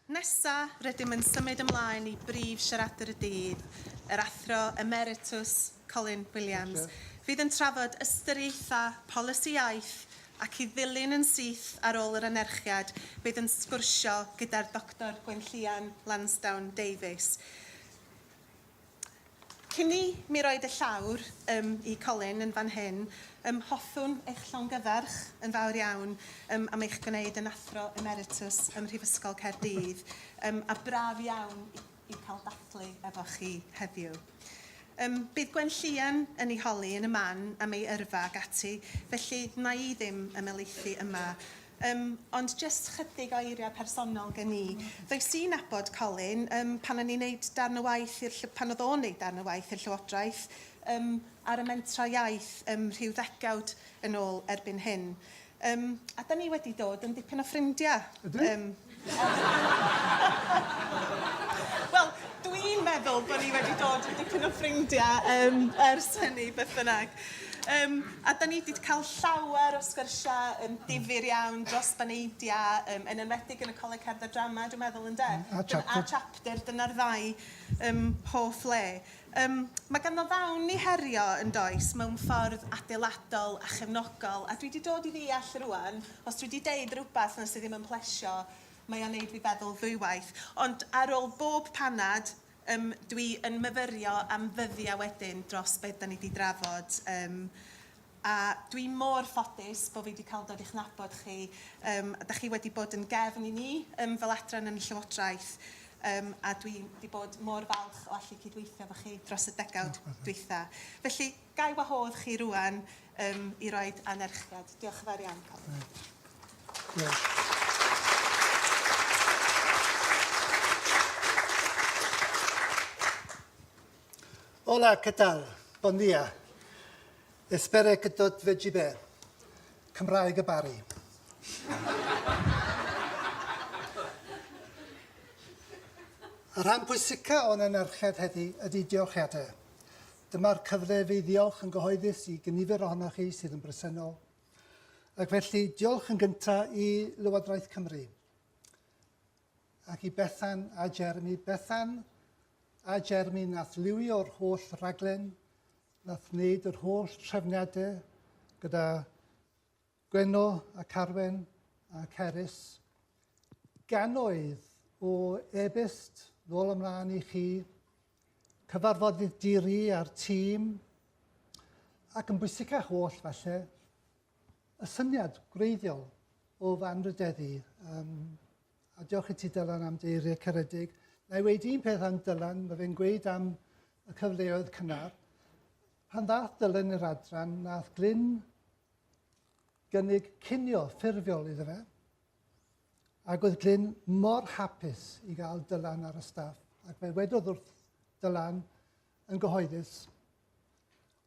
Nesa, rydym yn symud ymlaen i brif siaradwr y dydd, yr Athro Emeritws Colin Williams, fydd yn trafod ystyriaethau polisi iaith ac i ddilyn yn syth ar ôl yr anerchiad bydd yn sgwrsio gyda'r Doctor Gwenllian Lansdowne-Davies, Cyn i mi roi dy llawr ym i Colin yn fan hyn, ym hoffwn eich llongyfarch yn fawr iawn ym am eich gwneud yn Athro Emeritws ym Mhrifysgol Caerdydd ym a braf iawn i i cael dathlu efo chi heddiw. Ym bydd Gwenllian yn ei holi yn y man am ei yrfa ac ati, felly wna i ddim ymelaethu yma Yym, ond jyst chydig o eiriau personol gen i. Ddoes i'n nabod Colin yym pan o'n i'n neud darn o waith i'r lly- pan oedd o'n neud darn o waith i'r Llywodraeth yym ar y Mentrau Iaith yym rhyw ddegawd yn ôl erbyn hyn. Yym, a 'dan ni wedi dod yn dipyn o ffrindiau. Ydyn? Yym. Wel, dwi'n meddwl bod ni wedi dod yn dipyn o ffrindiau um, ers hynny, beth bynnag. Um, a da ni wedi cael llawer o sgyrsiau um, difyr iawn dros baneidiau, um, yn enwedig yn y Coleg Cerdd a Drama, dwi'n meddwl, ynde? A chapter. A chapter, dyna'r ddau um, hoff le. Yym, mae ganddo ddawn i herio, yn does, mewn ffordd adeiladol a chefnogol, a dwi 'di dod i ddeall rŵan, os dwi 'di deud rywbeth 'na sy ddim yn plesio, mae o'n neud fi feddwl ddwywaith. Ond ar ôl bob panad, yym, dwi yn myfyrio am ddyddiau wedyn dros be' 'dan ni 'di drafod, yym, A dwi mor ffodus bo fi 'di cael dod i'ch nabod chi. Yym, dach chi wedi bod yn gefn i ni yym fel adran yn y Llywodraeth, yym a dwi 'di bod mor falch o allu cydweithio efo chi dros y degawd dwytha. Felly, ga i wahodd chi rŵan yym i roid anerchiad. Diolch yn fawr iawn, Colin. Hola, que tal? Bon dia. Espere que tot vegi bé. Cymraeg y Bari. Y rhan pwysica o'n anerchedd heddi ydy diolchiadau. Dyma'r cyfle i fi ddiolch yn gyhoeddus i gynifer ohonoch chi sydd yn bresennol. Ac felly, diolch yn gyntaf i Lywodraeth Cymru. Ac i Bethan a Jeremy. Bethan a Jeremy nath liwio'r holl raglen, nath wneud yr holl trefniadau gyda Gwenno a Carwen a Cerys. Gannoedd o e-byst nôl ymlaen i chi, cyfarfodydd diri a'r tîm, ac yn bwysicach oll falle, y syniad gwreiddiol o fy anrhydeddu um, A diolch i ti Dylan am dy eiriau caredig. Na i wedi un peth am Dylan, mae fe'n gweud am y cyfleoedd cynnar. Pan ddath Dylan i'r adran, nath Glyn gynnig cinio ffurfiol iddo fe. Ac oedd Glyn mor hapus i gael Dylan ar y staff, ac fe wedodd wrth Dylan yn gyhoeddus,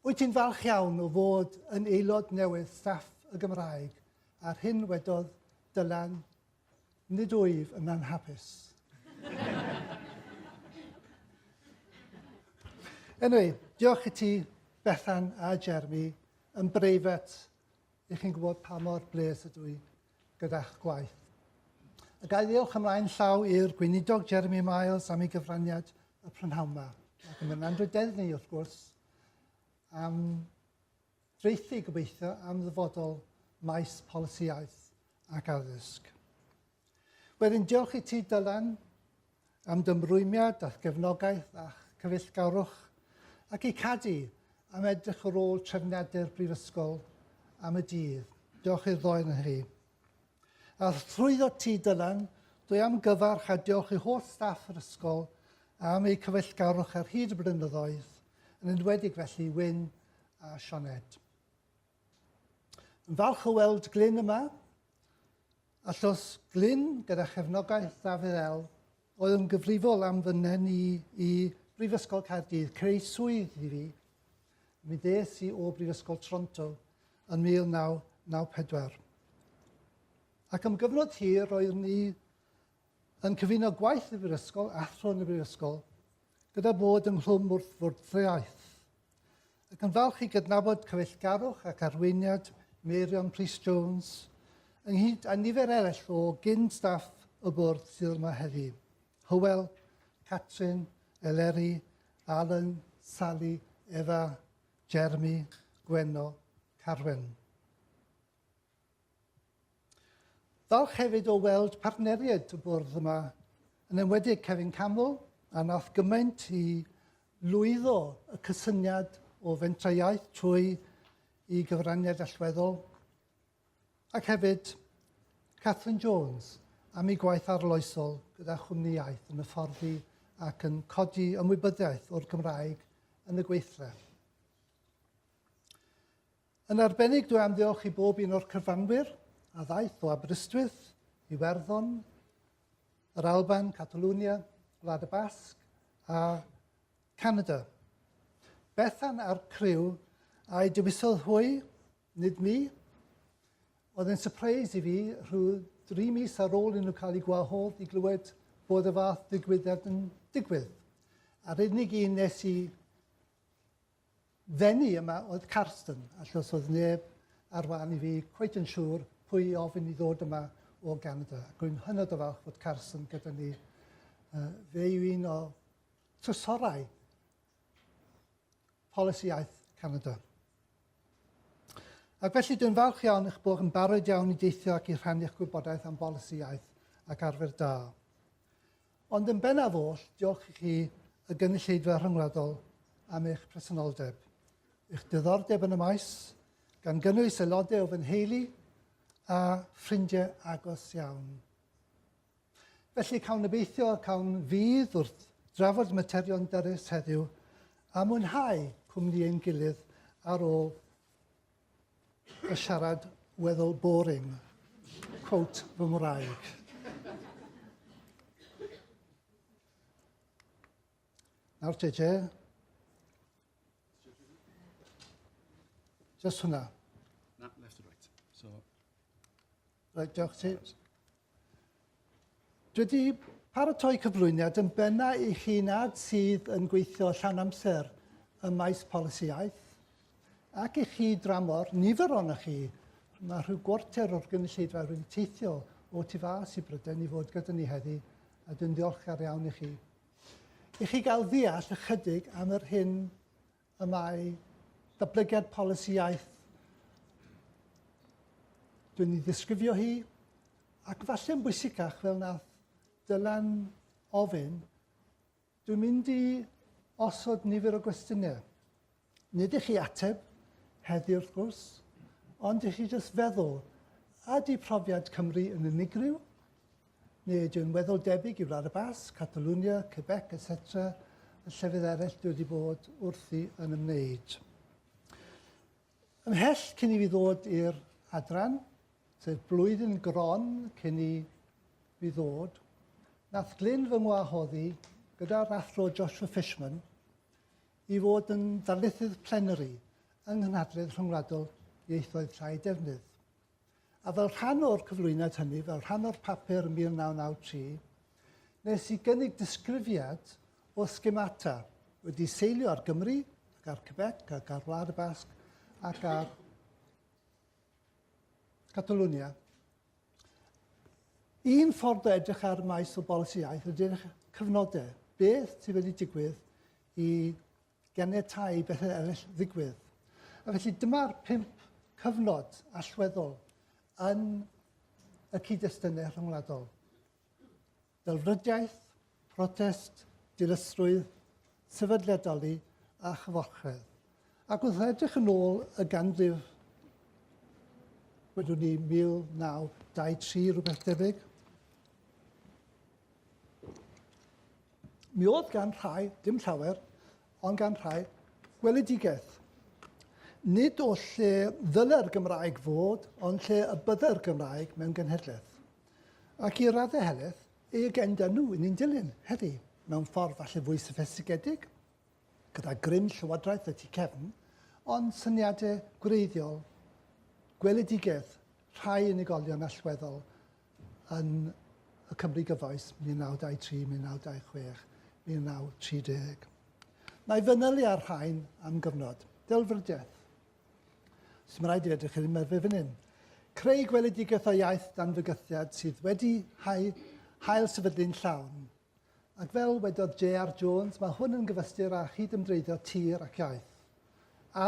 Wyt ti'n falch iawn o fod yn aelod newydd staff y Gymraeg, a'r hyn wedodd Dylan Nid wyf yn anhapus. Anyway, diolch i ti, Bethan a Jeremy, yn breifat i chi'n gwybod pa mor bres ydw i gyda'ch gwaith. A gael ddiolch ymlaen llaw i'r gweinidog Jeremy Miles am ei gyfraniad y prynhawn yma. Ac yn mynd Andrew Deddney, wrth gwrs, am Traethu, gobeithio, am ddyfodol maes polisi iaith ac addysg. Wedyn, diolch i ti, Dylan, am dymrwymiad a'ch gefnogaeth a'ch cyfeillgarwch, ac i Cadi am edrych ar ôl trefniadau'r Brifysgol am y dydd. Diolch i'r ddoen yn chi. A thrwyddo ti, Dylan, dwi am gyfarch a diolch i holl staff yr ysgol am eu cyfeillgarwch ar hyd y blynyddoedd, yn enwedig felly i Wyn a Sioned. Yn falch o weld Glyn yma, a llos Glyn gyda chefnogaeth Dafydd El, oedd yn gyfrifol am fy nhen i i Brifysgol Caerdydd, creu swydd i fi. Mi ddes i o Brifysgol Toronto yn 1994. Ac am gyfnod hir roeddwn ni yn cyfuno gwaith y Brifysgol, athro yn y Brifysgol, gyda bod ynghlwm wrth fwrdeiaeth. Ac yn falch i gydnabod cyfeillgarwch ac arweiniad Meirion Prys Jones, ynghyd â nifer eraill o gyn staff y bwrdd sydd yma heddi, Hywel, Catrin, Eleri, Alan, Sali, Efa, Jeremy, Gwenno, Carwen. Falch hefyd o weld partneriaid y bwrdd yma, yn enwedig Kevin Campbell, a wnaeth gymaint i lwyddo y cysyniad o fentrau iaith trwy i gyfraniad allweddol, ac hefyd Catherine Jones am ei gwaith arloesol gyda Chwmni Iaith yn hyfforddi ac yn codi ymwybyddiaeth o'r Gymraeg yn y gweithle. Yn arbennig dwi am ddiolch i bob un o'r cyfranwyr a ddaeth o Aberystwyth, Iwerddon, yr Alban, Catalwnia, Gwlad y Basg a Canada. Bethan a'r criw a'i dewisodd hwy, nid mi. Oedd yn surprise i fi rhyw dri mis ar ôl i nhw cael eu gwahodd i glywed bod y fath ddigwyddiad yn digwydd. A'r unig un nes i Ddeni yma oedd Carsten, achos oedd neb ar wahân i fi cweit yn siŵr pwy i ofyn i ddod yma o Ganada. Ac rwy'n hynod o falch fod Carsten gyda ni. Uh, fe yw un o trysorau polisi iaith Canada. Ac felly dwi'n falch iawn eich bod yn barod iawn i deithio ac i rhannu'ch gwybodaeth am bolisi iaith ac arfer da. Ond yn bennaf oll, diolch i chi, y Gynulleidfa Rhyngwladol, am eich presenoldeb, eich diddordeb yn y maes, gan gynnwys aelodau o fy nheulu a ffrindiau agos iawn. Felly, cawn obeithio, cawn fydd wrth drafod materion dyrys heddiw a mwynhau cwmni ein gilydd ar ôl y siarad weddol boring. Quote fy ngwraig. Nawr te, te. Just hwnna. Na, left and right. So... Right, diolch ti. Dwi wedi paratoi cyflwyniad yn benna i chi nad sydd yn gweithio llawn amser ym maes polisi iaith, ac i chi dramor, nifer o'na chi, mae rhyw gwarter o'r gynulleidfa wedi teithio o tu fas i Brydain i fod gyda ni heddi, a dwi'n ddiolchgar iawn i chi. I chi gael ddeall ychydig am yr hyn y mae datblygiad polisi iaith, dwi'n ei ddisgrifio hi, ac falle'n bwysicach fel nath Dylan ofyn, dwi'n mynd i osod nifer o gwestiynau. Nid i chi ateb heddi wrth gwrs, ond i chi jyst feddwl, ydy profiad Cymru yn unigryw? Neu ydy o'n weddol debyg i Wlad y Basg, Catalunya, Quebec, etc, y llefydd eraill dwi wedi bod wrthi yn ymwneud. Ymhell cyn i fi ddod i'r adran, sef blwyddyn gron cyn i fi ddod, nath Glyn fy ngwahoddi gyda'r athro Joshua Fishman i fod yn ddarlithydd plenary yng Nghynhadledd Rhyngwladol Ieithoedd Llai Defnydd. A fel rhan o'r cyflwyniad hynny, fel rhan o'r papur yn 1993, nes i gynnig disgrifiad o schemata wedi seilio ar Gymru, ac ar Quebec, ac ar Wlad y Basg, ac ar Catalonia. Un ffordd o edrych ar maes o bolisi iaith ydy'r cyfnodau. Beth sydd wedi digwydd i ganiatáu i bethau eraill ddigwydd. A felly dyma'r pump cyfnod allweddol yn y cyd-destunau rhyngwladol. Delfrydiaeth, protest, dilysrwydd, sefydliadoli a chyfochredd. Ac wrth edrych yn ôl y ganrif, wedwn ni 1923 rhywbeth debyg, Mi oedd gan rhai, dim llawer, ond gan rhai, gweledigaeth. Nid o lle ddyle'r Gymraeg fod, ond lle y bydde'r Gymraeg mewn genhedlaeth. Ac i raddau heleth, ei agenda nhw yn un dilyn, heddi, mewn ffordd falle fwy soffistigedig, gyda grym llywodraeth y tu cefn, ond syniadau gwreiddiol, gweledigaeth rhai unigolion allweddol yn y Cymru gyfoes 1923, 1926, 1930. Na i fanylu ar rhain am gyfnod. Delfrydiaeth. Os mae'n rhaid i edrych i'r ymerfau fan hyn. Creu gweledigaeth o iaith dan fygythiad sydd wedi hau hael sefydlu'n llawn. Ac fel wedodd J.R. Jones, mae hwn yn gyfystyr â chydymdreiddio tir ac iaith.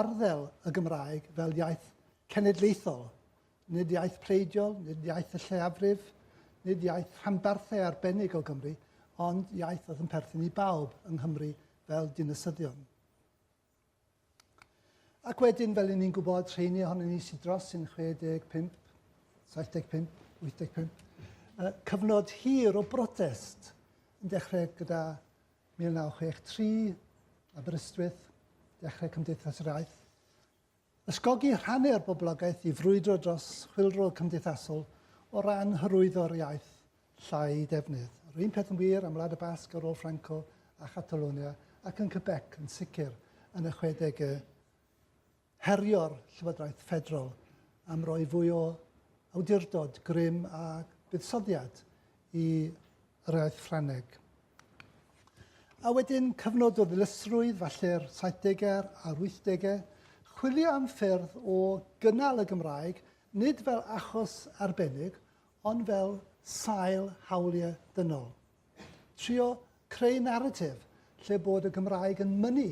Arddel y Gymraeg fel iaith cenedlaethol Nid iaith pleidiol, nid iaith y lleiafrif, nid iaith rhanbarthau arbennig o Gymru, ond iaith oedd yn perthyn i bawb yng Nghymru fel dinasyddion. Ac wedyn, fel i ni'n gwybod, rheini ohonyn ni sydd dros yn 65, 75, 85, uh, cyfnod hir o brotest yn dechrau gyda 1963, Aberystwyth, dechrau Cymdeithas yr Aeth, Ysgogi rhannu'r boblogaeth i frwydro dros chwyldro cymdeithasol o ran hyrwyddo'r iaith llai defnydd. Yr un peth yn wir am Wlad y Basg ar ôl Franco a Chatalonia, ac yn Quebec yn sicr yn y chwedegau. Herio'r Llywodraeth Ffederal am roi fwy o awdurdod grym a buddsoddiad i yr iaith Ffrangeg. A wedyn cyfnod o ddilysrwydd, falle'r 70au a'r 80au, chwilio am ffyrdd o gynnal y Gymraeg, nid fel achos arbennig, ond fel sail hawliau dynol. Trio creu naratif lle bod y Gymraeg yn mynnu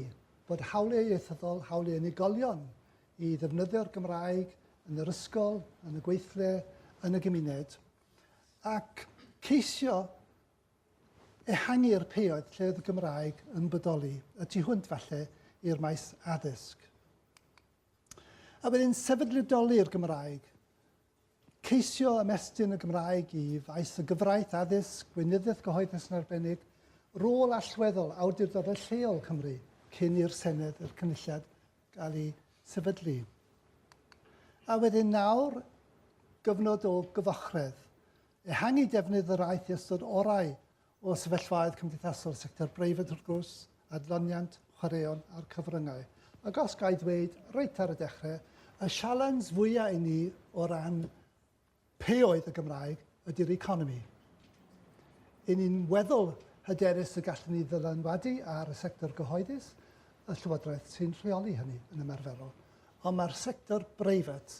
bod hawliau ieithyddol, hawliau unigolion i ddefnyddio'r Gymraeg yn yr ysgol, yn y gweithle, yn y gymuned, ac ceisio ehangu'r peioedd lle oedd y Gymraeg yn bodoli, y tu hwnt falle i'r maes addysg. A wedyn sefydlidoli'r Gymraeg, ceisio ymestyn y Gymraeg i faes y gyfraith addysg, gweinyddiaeth gyhoeddus yn arbennig, rôl allweddol awdurdodau lleol Cymru cyn i'r Senedd i'r Cynulliad gael ei sefydlu. A wedyn nawr, gyfnod o gyfochredd. Ehangu defnydd yr aeth i ystod orau o sefyllfaoedd cymdeithasol sector breifat wrth gwrs, adloniant, chwaraeon a'r cyfryngau. Ac os gael dweud reit ar y dechrau, y sialens fwyaf i ni o ran P'e oedd y Gymraeg ydy'r economi, yn un weddol hyderus y gallwn ni ddylanwadu ar y sector gyhoeddus, y Llywodraeth sy'n rheoli hynny yn ymarferol, ond mae'r sector breifat,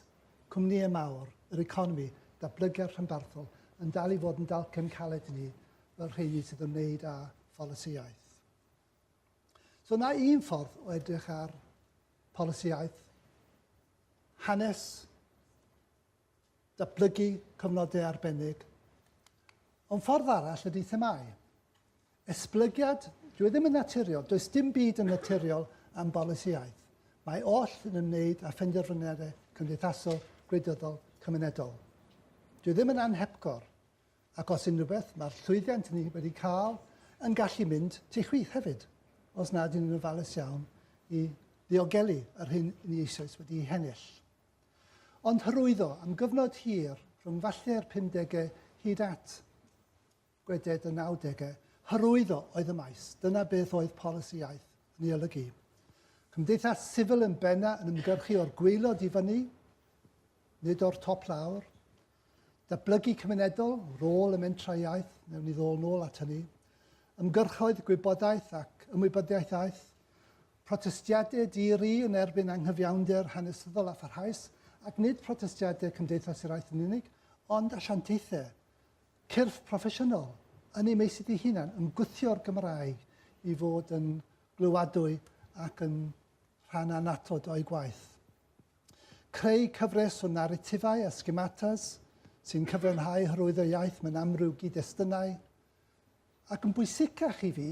cwmnïau mawr, yr economi, datblygiad rhanbarthol, yn dal i fod yn dalcen caled i ni fel rheini sydd yn wneud â pholisiaeth. So na un ffordd o edrych ar pholisiaeth, hanes, Datblygu cyfnodau arbennig. Ond ffordd arall ydy themâu. Esblygiad, dyw e ddim yn naturiol, does dim byd yn naturiol am bolisi iaith. Mae oll yn ymwneud â phenderfyniadau cymdeithasol, gwleidyddol, cymunedol. Dyw e ddim yn anhepgor, ac os unrhyw beth, mae'r llwyddiant ni wedi cael yn gallu mynd tu chwith hefyd, os nad yn yn ofalus iawn, i ddiogelu yr hyn ni eisoes wedi'i hennill. Ond hyrwyddo am gyfnod hir rhwng falle'r pumdegau hyd at gweded y nawdegau, hyrwyddo oedd y maes, dyna beth oedd polisi iaith yn ei olygu. Cymdeithas sifil yn benna yn ymgyrchu o'r gweilod i fyny, nid o'r top lawr, datblygu cymunedol, rôl y mentrau iaith, newn ni ddôl nôl at hynny, ymgyrchoedd gwybodaeth ac ymwybyddiaeth aeth, Protestiadau di-ri yn erbyn anghyfiawnder hanesyddol a pharhaus, ac nid protestiadau Cymdeithas yr Iaith yn unig, ond asiantaethau, cyrff proffesiynol, yn eu meysydd eu hunain, yn gwthio'r Gymraeg i fod yn glywadwy ac yn rhan annatod o'u gwaith. Creu cyfres o naritifau a schematas sy'n cyfiawnhau hyrwyddo iaith mewn amryw gyd-destunau, Ac yn bwysicach i fi,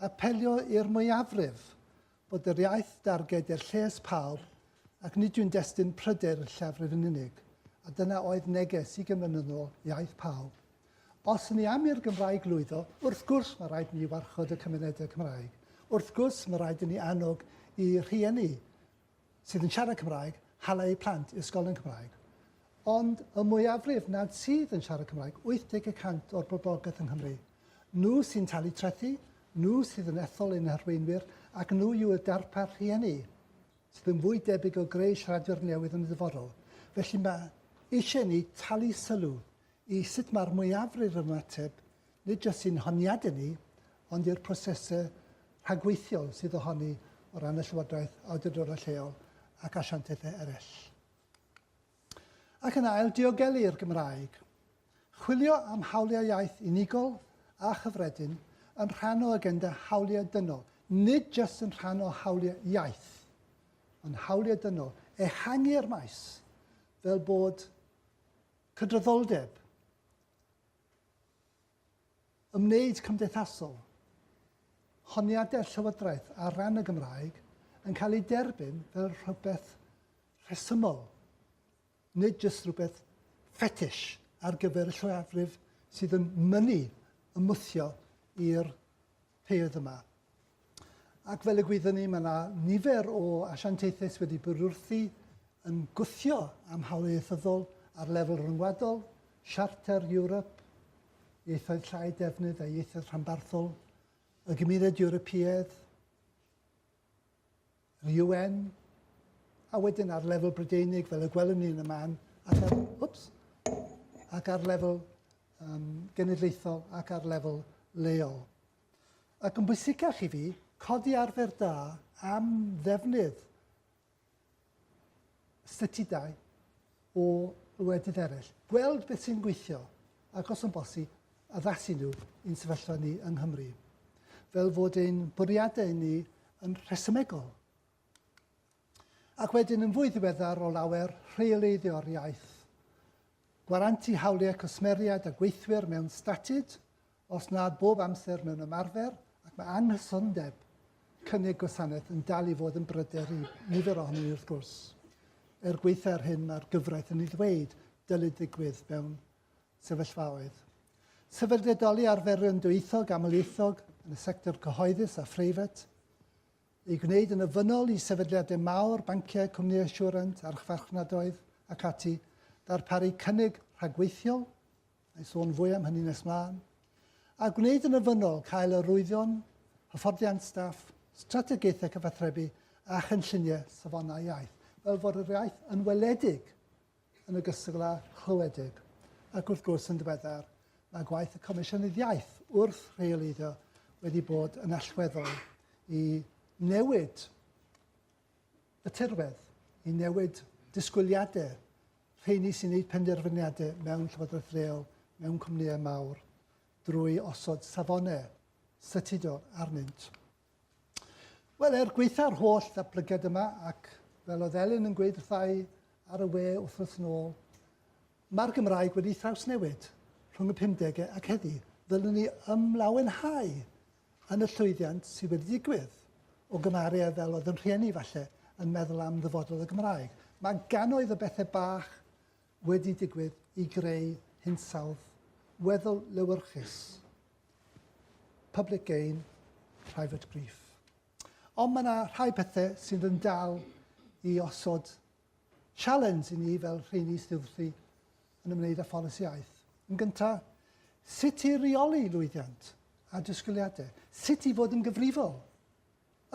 apelio i'r mwyafrif, bod yr iaith darged i'r lles pawb ac nid yw'n destun pryder i'r llafrif yn unig, a dyna oedd neges ugain mlynedd yn ôl, iaith pawb. Os yn ni am i'r Gymraeg lwyddo, wrth gwrs mae rhaid i ni warchod y cymunedau Cymraeg. Wrth gwrs mae rhaid i ni annog i rhieni sydd yn siarad Cymraeg, hala eu plant i ysgolion Cymraeg. Ond y mwyafrif nad sydd yn siarad Cymraeg, 80 y cant o'r boblogaeth yng Nghymru. Nhw sy'n talu trethi, nhw sydd yn ethol ein harweinwyr ac nhw yw y darpar rhieni sydd yn fwy debyg o greu siaradwyr newydd yn y dyfodol. Felly mae eisiau ni talu sylw i sut mae'r mwyafrif yn ymateb, nid jyst i'n honiadau ni, ond i'r prosesau rhagweithiol sydd ohoni o ran y Llywodraeth, awdurdodau lleol ac asiantaethau eraill. Ac yn ail, diogelu'r Gymraeg. Chwilio am hawliau iaith unigol a chyffredin yn rhan o agenda hawliau dynol, nid jyst yn rhan o hawliau iaith, ond hawliau dynol, ehangu'r maes, fel bod Cydraddoldeb, Ymwneud cymdeithasol, Honiadau'r Llywodraeth ar ran y Gymraeg yn cael eu derbyn fel rhywbeth rhesymol, nid jyst rhywbeth ffetish ar gyfer y lleiafrif sydd yn mynnu ymwthio i'r pyrdd yma. Ac fel y gwyddwn ni, mae yna nifer o asiantaethus wedi bwrwrthi yn gwthio am hawl ieithyddol ar lefel ryngwladol, Siarter Ewrop, ieithoedd llai defnydd a ieithoedd rhanbarthol, y Gymuned Ewropeaidd, yr UN, a wedyn ar lefel Brydeinig, fel y gwelwn ni yn y man, ac ar, whoops, ac ar lefel um, genedlaethol ac ar lefel leol. Ac yn bwysicach i fi, codi arfer da am ddefnydd statudau o wledydd eraill, gweld beth sy'n gweithio, ac os yn bosi, addasu nhw i'n sefyllfa ni yng Nghymru. Fel fod ein bwriadau ni yn rhesymegol. Ac wedyn yn fwy ddiweddar o lawer rheoleiddio'r iaith. Gwarantu hawliau cwsmeriaid a gweithwyr mewn statud, Os nad bob amser mewn ymarfer, ac mae anghysondeb cynnig gwasanaeth yn dal i fod yn bryder i nifer ohonyn ni wrth gwrs. Er gweitha ar hyn mae'r gyfraith yn ei ddweud dylid ddigwydd mewn sefyllfaoedd. Sefydledoli arferion dwyieithog amlieithog yn y sector cyhoeddus a phreifat, ei gwneud yn ofynnol i sefydliadau mawr, banciau, cwmnïau asiwrant, archfarchnadoedd ac ati, ddarparu cynnig rhagweithiol a i sôn fwy am hynny nes mlaen, a gwneud yn ofynnol cael arwyddion, hyfforddiant staff, strategaethau cyfathrebu a chynlluniau safonau iaith, fel fod yr iaith yn weledig yn ogystal â chlywedig. Ac wrth gwrs yn ddiweddar, mae gwaith y Comisiynydd Iaith wrth rheoleiddio wedi bod yn allweddol i newid y tirwedd, i newid disgwyliadau rheini sy'n gwneud penderfyniadau mewn llywodraeth leol, mewn cwmnïau mawr, drwy osod safonau statudol arnynt. Wel, er gweitha'r holl ddatblygiad yma, ac fel oedd Elin yn gweud wrthau ar y we wythnos yn ôl, mae'r Gymraeg wedi thrawsnewid rhwng y 50au ac heddi. Ddylwn ni ymlawenhau yn y llwyddiant sydd wedi digwydd, o gymharu â fel oedd yn rhieni falle yn meddwl am ddyfodol y Gymraeg. Mae gannoedd o bethau bach wedi digwydd i greu hinsawdd weddol lewyrchus. Public gain, private grief. Ond mae yna rhai pethau sydd yn dal i osod Sialens i ni fel rheini sydd wrthi yn ymwneud â pholisi iaith. Yn gyntaf, sut i reoli lwyddiant a disgwyliadau, sut i fod yn gyfrifol,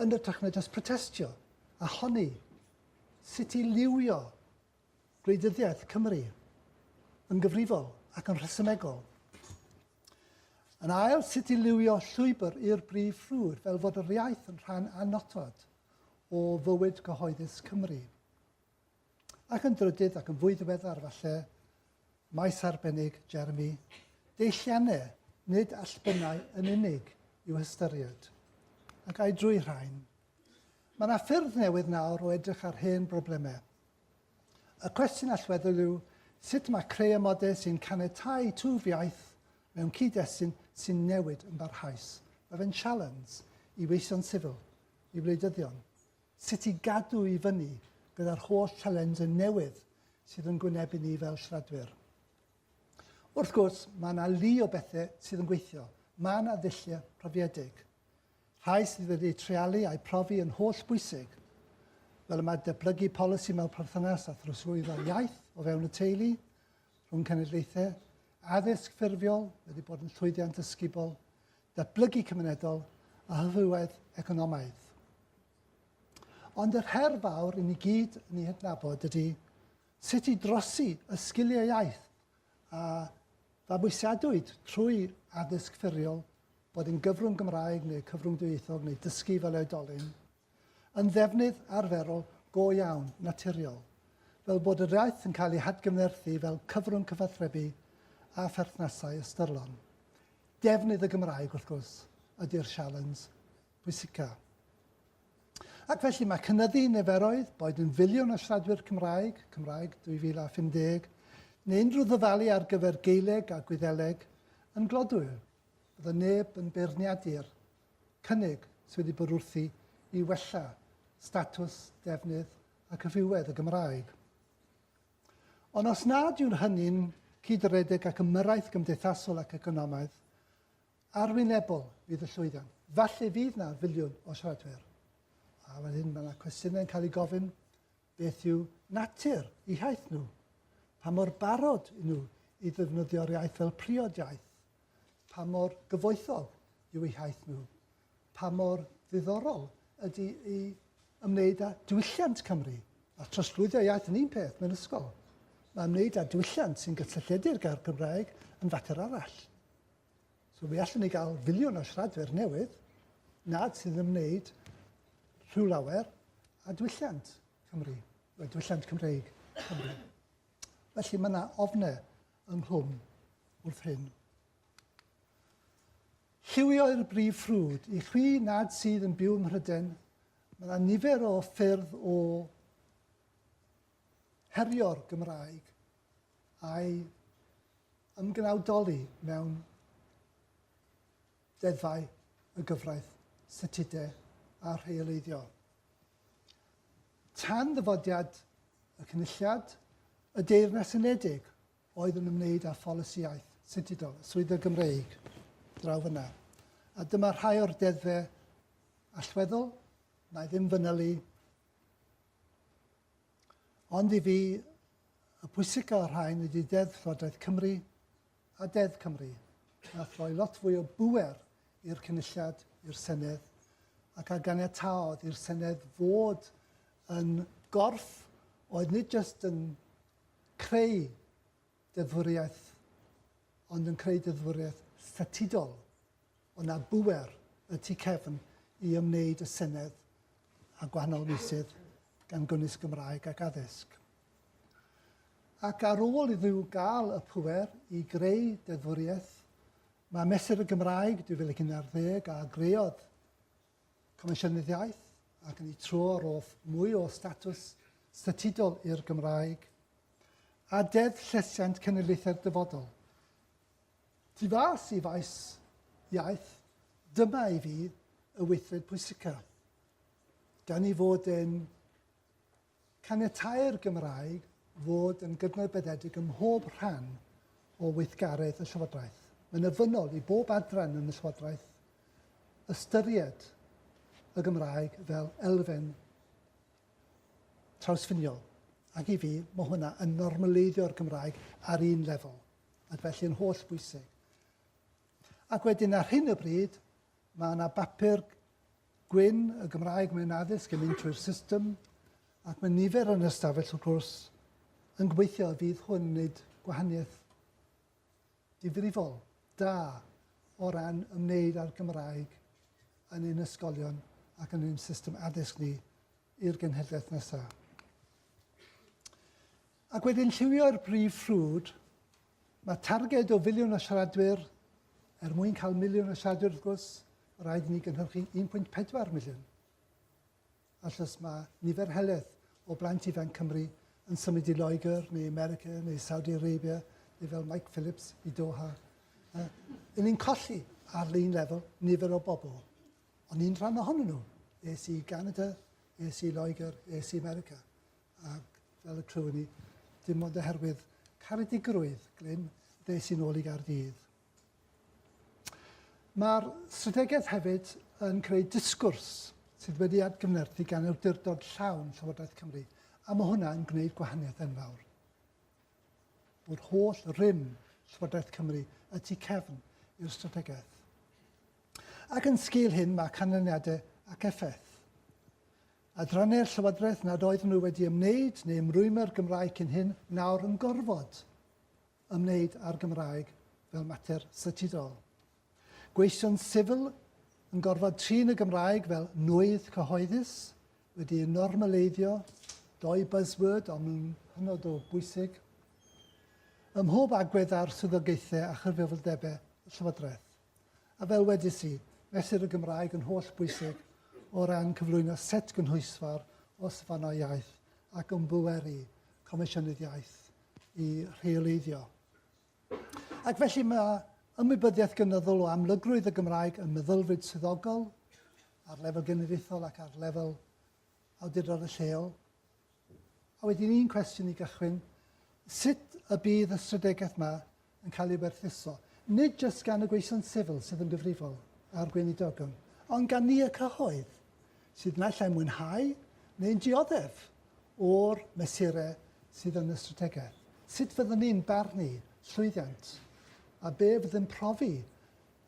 yn ytrach na jyst protestio, a honni sut i liwio gwleidyddiaeth Cymru yn gyfrifol ac yn rhesymegol. Yn ail, sut i liwio llwybr i'r brif ffrwd fel fod yr iaith yn rhan annodwedd o fywyd cyhoeddus Cymru. Ac yn drydydd ac yn fwy ddiweddar falle, maes arbennig Jeremy, deilliannau nid allbynnau yn unig i'w hystyried. Ac ai drwy rhain? Mae yna ffyrdd newydd nawr o edrych ar hen broblemau. Y cwestiwn allweddol yw sut mae creu amodau sy'n canetau twf iaith mewn cyd-destun sy'n newid yn barhaus. Mae fe'n sialens i weision sifil i wleidyddion sut i gadw i fyny gyda'r holl sialensau newydd sydd yn gwynebu ni fel siaradwyr. Wrth gwrs, mae yna lu o bethau sydd yn gweithio. Mae yna ddulliau profiedig. Rhai sydd wedi treialu a'i profi yn holl bwysig, fel y mae deblygu polisi mewn perthynas â throsglwyddo iaith o fewn y teulu, rhwng cenedlaethau, addysg ffurfiol wedi bod yn llwyddiant ysgubol, datblygu cymunedol a hyfywedd economaidd. Ond yr her fawr i ni gyd yn ei hydnabod ydy sut i drosi y sgiliau iaith a fabwysiadwyd trwy addysg ffurfiol, bod yn gyfrwng Gymraeg neu cyfrwng dwyieithog neu dysgu fel oedolyn, yn ddefnydd arferol go iawn, naturiol, fel bod yr iaith yn cael ei hadgyfnerthu fel cyfrwng cyfathrebu a pherthnasau ystyrlon. Defnydd y Gymraeg, wrth gwrs, ydy'r sialens pwysica. Ac felly mae cynyddu niferoedd, boed yn filiwn o siaradwyr Cymraeg, Cymraeg 2050, neu unrhyw ddyfalu ar gyfer Geileg a Gwyddeleg, yn glodwyr. Bydd y neb yn beirniadu'r cynnig sydd wedi bod wrthi i wella statws, defnydd ac hyfywedd y Gymraeg. Ond os nad yw'n hynny'n cyd-redeg ac ymyrraeth gymdeithasol ac economaidd, arwynebol fydd y llwyddiant. Falle fydd na filiwn o siaradwyr. A wedyn mae yna cwestiynau yn cael ei gofyn, beth yw natur i haith nhw? Pa mor barod i nhw i ddefnyddio'r iaith fel priod iaith? pa mor gyfoethog yw eu hiaith nhw, pa mor ddiddorol ydy i ymwneud â diwylliant Cymru, a trosglwyddio iaith yn un peth mewn ysgol. Mae ymwneud â diwylliant sy'n gysylltiedig â'r Gymraeg yn fater arall. So mi allwn ni gael filiwn o siaradwyr newydd nad sy'n ymwneud rhyw lawer a diwylliant Cymru, a diwylliant Cymreig Cymru. Felly mae yna ofne ynghlwm wrth hyn. Lliwio'r brif ffrwd. I chwi nad sydd yn byw ym Mhryden, mae yna nifer o ffyrdd o herio'r Gymraeg a'i ymgnawdoli mewn deddfau y gyfraith, statudau a rheoleiddio. Tan ddyfodiad y Cynulliad, y Deyrnas Unedig oedd yn ymwneud â pholisi iaith. Sintidol, y swyddfa Gymreig draw fyna. A dyma rhai o'r deddfe allweddol, na i ddim fynylu. Ond i fi, y pwysica o'r rhain ydy Deddf Llywodraeth Cymru a Deddf Cymru wnaeth roi lot fwy o bŵer i'r Cynulliad, i'r Senedd, ac a ganiataodd i'r Senedd fod yn gorff oedd nid jyst yn creu deddfwriaeth, ond yn creu deddfwriaeth statudol. Ond na bŵer y tu cefn i ymwneud y Senedd a gwahanol meysydd gan gynnwys Gymraeg ac addysg. Ac ar ôl iddyw gael y pŵer i greu deddfwriaeth, mae Mesur y Gymraeg 2011 a greodd Comisiynydd Iaith ac yn ei tro rodd mwy o statws statudol i'r Gymraeg a Deddf Llesiant Cenedlaethau'r Dyfodol. Tu fas i faes iaith, dyma i fi y weithred pwysicaf. Gan ei fod yn Caniatáu'r Gymraeg fod yn gydnabyddedig ym mhob rhan o weithgaredd y Llywodraeth. Mae'n ofynnol i bob adran yn y Llywodraeth ystyried y Gymraeg fel elfen trawsffiniol, ac i fi, mae hwnna yn normaleiddio'r Gymraeg ar un lefel, ac felly yn holl bwysig. Ac wedyn ar hyn o bryd, mae yna bapur Gwyn, y Gymraeg mewn addysg yn mynd trwy'r system, ac mae nifer yn ystafell wrth gwrs yn gobeithio y fydd hwn yn gwneud gwahaniaeth difrifol da o ran ymwneud â'r Gymraeg yn ein ysgolion ac yn ein system addysg ni i'r genhedlaeth nesaf. Ac wedyn lliwio i'r brif ffrwd. Mae targed o filiwn o siaradwyr, er mwyn cael miliwn o siaradwyr wrth gwrs, rhaid i ni gynhyrchu 1.4 miliwn. Achos mae nifer heledd o blant ifanc Cymru yn symud i Loegr neu America neu Saudi Arabia neu fel Mike Phillips i Doha. Uh, yn ni'n colli ar lein lefel nifer o bobl. Ond un rhan ohonyn nhw, es i Canada, es i Loegr, es i America. ac fel y clywyn ni, dim ond oherwydd caredigrwydd Glyn ddes i'n ôl i Gaerdydd. Mae'r strategaeth hefyd yn creu disgwrs sydd wedi atgyfnerthu gan awdurdod llawn Llywodraeth Cymru, a mae hwnna yn gwneud gwahaniaeth enfawr. O'r holl rym Llywodraeth Cymru y tu cefn i'r strategaeth. Ac yn sgil hyn mae canlyniadau ac effaith. Adranne'r Llywodraeth nad oeddwn nhw wedi ymwneud neu ymrwymo i'r Gymraeg cyn hyn, nawr yn gorfod ymwneud â'r Gymraeg fel mater statudol. Gweision sifil yn gorfod trin y Gymraeg fel nwydd cyhoeddus, wedi ei normaleiddio, dou buzzword ond nhw'n hynod o bwysig, ym mhob agwedd ar swyddogaethau a chyfrifoldebau y Llywodraeth. A fel wedes i, mesur y Gymraeg yn holl bwysig o ran cyflwyno set gynhwysfawr o safonau iaith ac ymbweru Comisiynydd Iaith i rheoleiddio. Ac felly mae ymwybyddiaeth gynyddol o amlygrwydd y Gymraeg yn meddylfryd swyddogol ar lefel genedlaethol ac ar lefel awdurdod y lleol. A wedyn un cwestiwn i gychwyn, sut y bydd y strategaeth yma yn cael ei werthuso, nid jyst gan y gweision sifil sydd yn gyfrifol a'r gweinidogion, ond gan ni y cyhoedd, sydd naill ai'n mwynhau neu'n dioddef o'r mesurau sydd yn y strategaeth. Sut fyddwn ni'n barnu llwyddiant a be fydd yn profi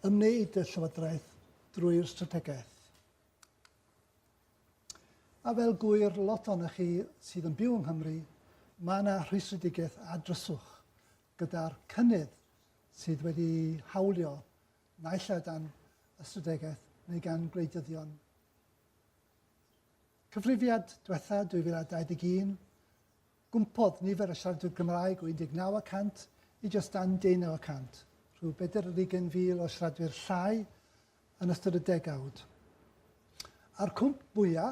ymwneud y Llywodraeth drwy'r strategaeth? A fel gŵyr lot ohonoch chi sydd yn byw yng Nghymru, mae yna rhwystredigaeth ar dryswch gyda'r cynnydd sydd wedi hawlio naill ai dan ystradegeth neu gan gwleidyddion Cyfrifiad diwetha 2021 Gwmpodd nifer y siaradwyr Cymraeg o 19 y cant i jyst dan deunaw y cant, rhyw bedair ar ugain fil o siaradwyr llai yn ystod y degawd. A'r cwmp fwya',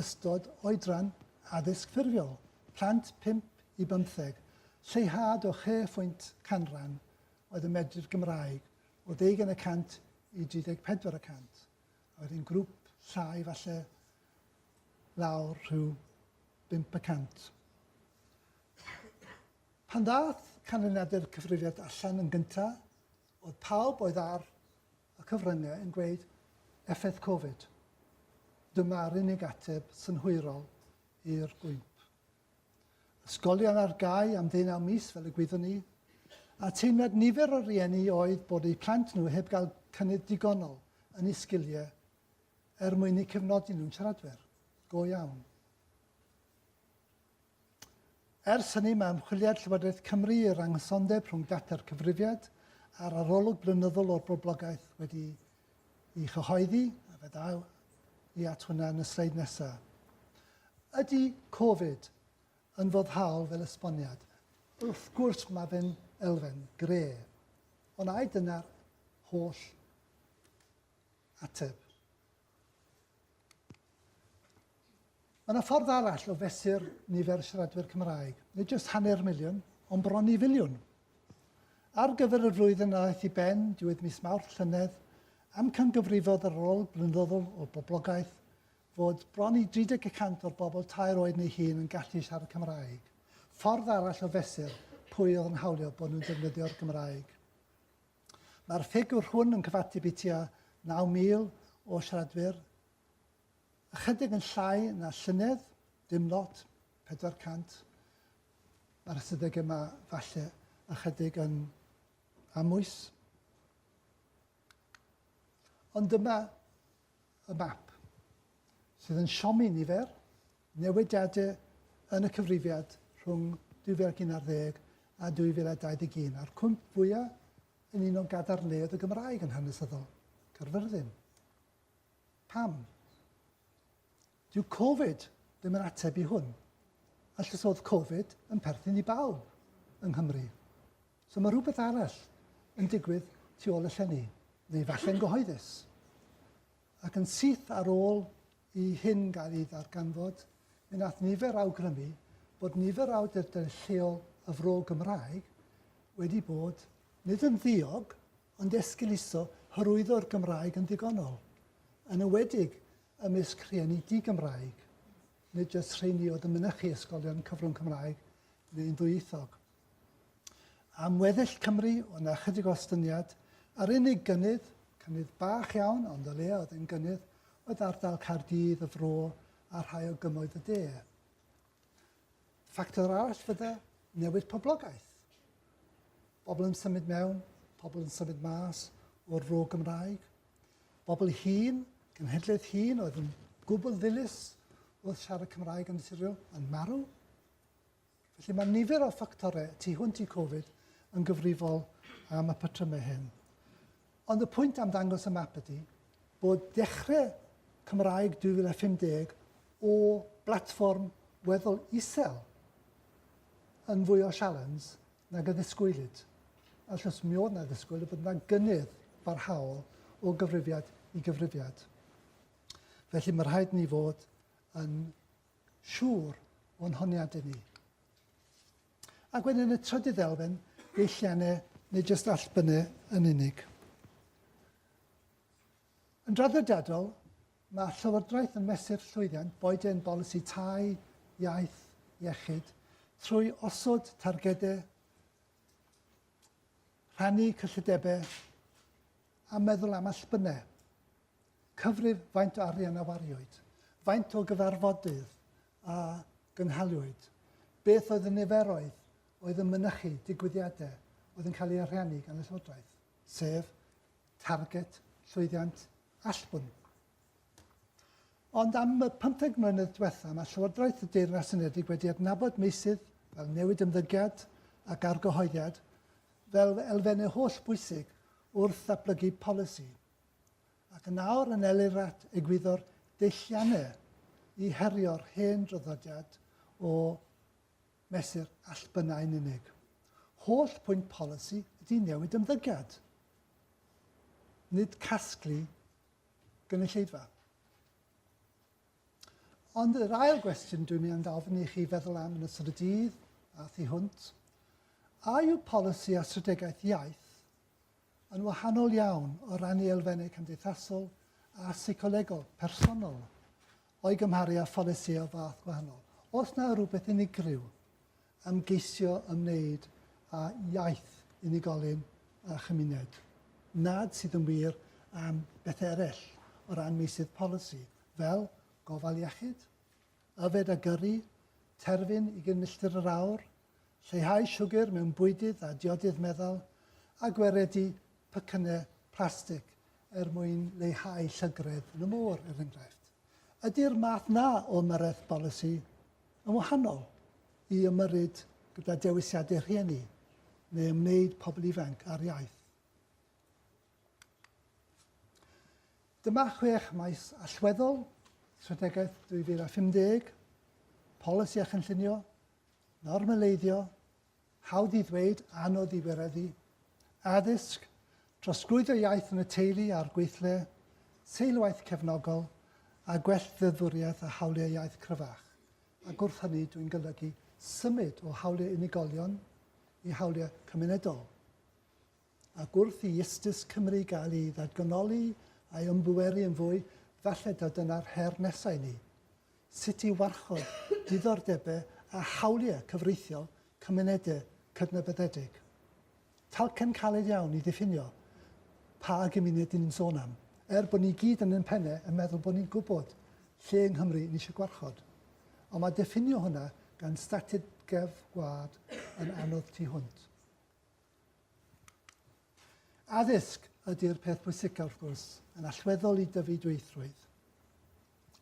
ystod oedran addysg ffurfiol, plant pump i bymtheg, lleihad o chwe phwynt canran oedd yn medru'r Gymraeg, o ddeugain y cant i 34 y cant, a wedyn grŵp llai falle lawr rhyw bump y cant. Pan ddaeth canlyniadau'r cyfrifiad allan yn gynta, oedd pawb oedd ar y cyfryngau yn gweud effaith Covid. Dyma'r unig ateb synhwyrol i'r bwymp. Ysgolion ar gau am ddeunaw mis fel y gwyddwn ni, a teimlad nifer o rieni oedd bod eu plant nhw heb gael cynnydd digonol yn eu sgiliau Er mwyn eu cefnogi nhw'n siaradwyr go iawn. Ers hynny, mae ymchwiliad Llywodraeth Cymru i'r anghysondeb rhwng data'r cyfrifiad a'r arolwg blynyddol o'r boblogaeth wedi ei chyhoeddi, a fe ddaw i at hwnna yn y sleid nesaf. Ydy Covid yn foddhaol fel esboniad? Wrth gwrs mae fe'n elfen gre. Ond ai dyna'r holl Ateb. Mae yna ffordd arall o fesur nifer y siaradwyr Cymraeg, nid jyst hanner miliwn, ond bron i filiwn. Ar gyfer y flwyddyn a ddaeth i ben diwedd mis Mawrth llynedd, amcangyfrifodd yr ôl blynyddol o boblogaeth fod bron i 30% o'r bobl tair oed neu hun yn gallu siarad Cymraeg, ffordd arall o fesur pwy oedd yn hawlio bod nhw'n defnyddio'r Gymraeg. Mae'r ffigwr hwn yn cyfateb i tua 9,000 o siaradwyr, ychydig yn llai na llynedd, dim lot, 400. Mae'r ystadegau yma falle ychydig yn amwys. Ond dyma y map sydd yn siomi nifer Newidiadau yn y cyfrifiad rhwng 2011 a 2021, a'r cwymp fwya' yn un o gadarnleoedd y Gymraeg yn hanesyddol, Caerfyrddin. Pam? Dyw Covid ddim yn ateb i hwn. A llysoedd Covid yn perthyn i bawb yng Nghymru. So mae rhywbeth arall yn digwydd tu ôl y llenni, neu falle'n gyhoeddus. Ac yn syth ar ôl i hyn gael ei ddarganfod, mi wnaeth nifer awgrymu bod nifer o awdurdodau lleol y Fro Gymraeg wedi bod, nid yn ddiog, ond esgeuluso hyrwyddo'r Gymraeg yn ddigonol, yn enwedig ymysg rhieni di-Gymraeg, nid jyst rheini oedd yn mynychu ysgolion cyfrwng Cymraeg neu'n ddwyieithog. Am weddill Cymru, o' 'na chydig o ostyngiad. Yr unig gynnydd, cynnydd bach iawn, ond o leia oedd e'n gynnydd, oedd ardal Caerdydd, y Fro, a rhai o gymoedd y de. Ffactor arall fydde newid poblogaeth. Pobl yn symud mewn, pobl yn symud mas o'r fro Gymraeg. Bobl hŷn, cenhedlaeth hŷn oedd yn gwbl ddilys wrth siarad Cymraeg yn naturiol, yn marw. Felly mae nifer o ffactorau tu hwnt i Covid yn gyfrifol am y patrymau hyn. Ond y pwynt am ddangos y map ydy bod dechrau Cymraeg 2050 o blatfform weddol isel yn fwy o sialens nag y ddisgwylid. Allws mi oedd na ddisgwyl y bod yna gynnydd barhaol o gyfrifiad i gyfrifiad. Felly mae rhaid ni fod yn siŵr o'n honiadau ni. Ac wedyn y trydydd elfen, deilliannau neu jyst allbynnau yn unig. Yn draddodiadol, mae Llywodraeth yn mesur llwyddiant boed e'n bolisi tai, iaith, iechyd, trwy osod targedau, rhannu cyllidebau a meddwl am allbynnau. Cyfrif faint o arian a wariwyd, faint o gyfarfodydd a gynhaliwyd, beth oedd y niferoedd oedd yn mynychu digwyddiadau oedd yn cael eu ariannu gan y Llywodraeth, sef targed, llwyddiant, allbwn. Ond am y 15 mlynedd diwetha, mae Llywodraeth y Deyrnas Unedig wedi adnabod meysydd fel newid ymddygiad ac argyhoeddiad fel elfennau holl bwysig wrth ddatblygu polisi ac yn awr yn elirat egwyddor deilliannu i herio'r hen draddodiad o mesur allbynnau yn unig. Holl pwynt polisi ydy newid ymddygiad, nid casglu gynulleidfa. Ond yr ail gwestiwn dwi'n mynd i ofyn i chi feddwl am yn ystod y dydd a thu hwnt, a yw polisi a strategaeth iaith yn wahanol iawn o ran ei elfennau cymdeithasol a seicolegol, personol, o'i gymharu â pholisïau o fath gwahanol. Os na rhywbeth unigryw am geisio ymwneud â iaith unigolyn a chymuned, nad sydd yn wir am bethau eraill o ran meysydd polisi, fel gofal iechyd, yfed a gyrru, terfyn ugain milltir yr awr, lleihau siwgr mewn bwydydd a diodydd meddal, a gwaredu pecynnau plastig er mwyn leihau llygredd yn y môr, er enghraifft. Ydy'r math 'na o ymyrraeth bolisi yn wahanol i ymyrryd gyda dewisiadau rhieni neu ymwneud pobl ifanc â'r iaith? Dyma chwech maes allweddol, strategaeth 2050, polisi a chynllunio, normaleiddio, hawdd i ddweud, anodd i wireddu, addysg, trosglwyddo iaith yn y teulu a'r gweithle, seilwaith cefnogol, a gwell ddeddfwriaeth a hawliau iaith cryfach, ac wrth hynny dwi'n golygu symud o hawliau unigolion i hawliau cymunedol. ac wrth i Iestus Cymru gael ei ddatganoli a'i ymbweru yn fwy, falle taw dyna'r her nesa' i ni, sut i warchod diddordebe a hawlie cyfreithiol cymunede cydnabyddedig. Talcen caled iawn i ddiffinio pa gymuned 'yn ni'n sôn am, er bod ni gyd yn ein penne yn meddwl bod ni'n gwybod lle yng Nghymru ni eisiau gwarchod. Ond mae diffinio hwnna gan strategaeth gwlad yn anodd tu hwnt. Addysg ydy'r peth pwysicaf wrth gwrs, yn allweddol i dyfu dwyieithrwydd.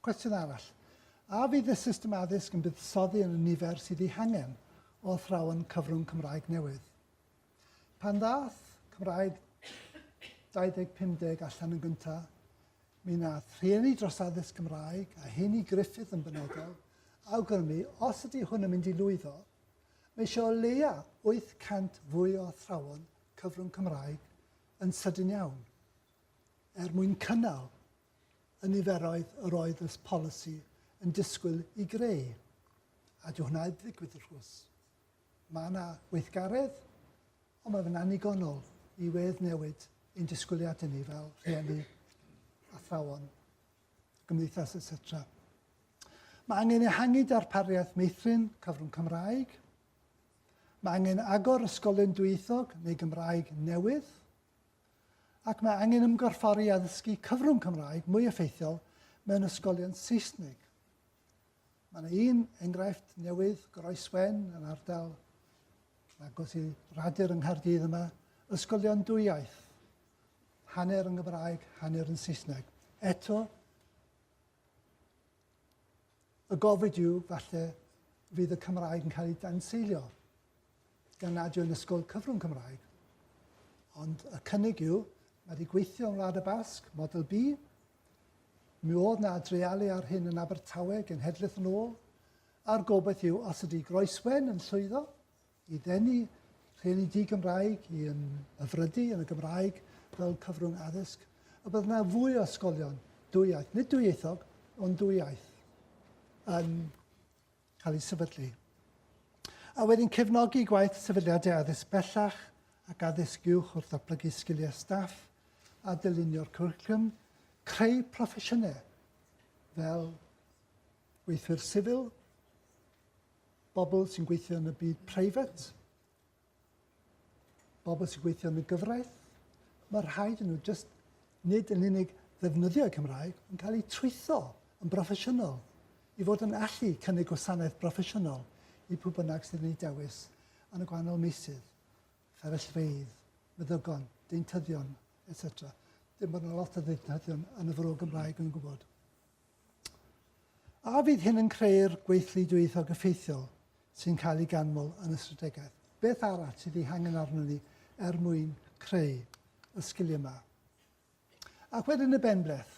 Cwestiwn arall. A fydd y system addysg yn buddsoddi yn y nifer sydd ei hangen o athrawon cyfrwng Cymraeg newydd? Pan ddath Cymraeg 2050 allan yn gyntaf, mi nath rhieni dros addysg Gymraeg, a heini Griffith yn benodol, awgrymu os ydy hwn yn mynd i lwyddo, Mae eisiau o leia 800 fwy o athrawon cyfrwng Cymraeg yn sydyn iawn, er mwyn cynnal y niferoedd yr oedd y polisi yn disgwyl i greu, a dyw hwnna 'eb ddigwydd wrth gwrs. Mae yna weithgaredd, ond mae fe'n annigonol i wedd-newid ein disgwyliadau ni fel rhieni, athrawon y gymdeithas, etc. Mae angen ehangu darpariaeth meithrin cyfrwng Cymraeg. Mae angen agor ysgolion dwyieithog neu Gymraeg newydd. Ac mae angen ymgorffori addysgu cyfrwng Cymraeg mwy effeithiol mewn ysgolion Saesneg. Mae yna un enghraifft newydd, Groeswen, yn ardal agos i Radur yng Nghaerdydd yma, ysgolion dwywaith. hanner yn Gymraeg, hanner yn Saesneg. Eto, y gofid yw, falle, fydd y Cymraeg yn cael ei danseilio gan nad yw'n ysgol cyfrwng Cymraeg. Ond y cynnig yw, mae wedi gweithio yn Wlad y Basg, model B. Mi oedd na dreialu ar hyn yn Abertawe genhedlaeth yn ôl, a'r gobaith yw os ydy Groeswen yn llwyddo, i ddenu rhieni di-Gymraeg i ymhyfrydu yn y Gymraeg fel cyfrwng addysg, y bydd yna fwy o ysgolion dwy-iaith, nid dwy-ieithog, ond dwy-iaith, yn cael ei sefydlu. A wedyn cefnogi gwaith sefydliadau addysg bellach ac addysg uwch wrth ddatblygu sgiliau staff a dylunio'r cwricwlwm, creu proffesiynau fel weithwyr sifil, Bobl sy'n gweithio yn y byd preifat, bobl sy'n gweithio yn y gyfraith, mae rhaid yn nhw jyst nid yn unig ddefnyddio'r Cymraeg, yn cael eu trwytho yn broffesiynol i fod yn allu cynnig gwasanaeth broffesiynol i pwy bynnag sydd yn ei dewis yn y gwahanol meysydd, fferyllfeydd, meddygon, deintyddion, etc. Dim bod yna lot o ddeintyddion yn y fro Gymraeg yn gwybod. A fydd hyn yn creu'r gweithlu dwyieithog effeithiol sy'n cael ei ganmol yn y strategaeth? Beth arall sydd ei hangen arno ni er mwyn creu y sgiliau yma? Ac wedyn y benbleth,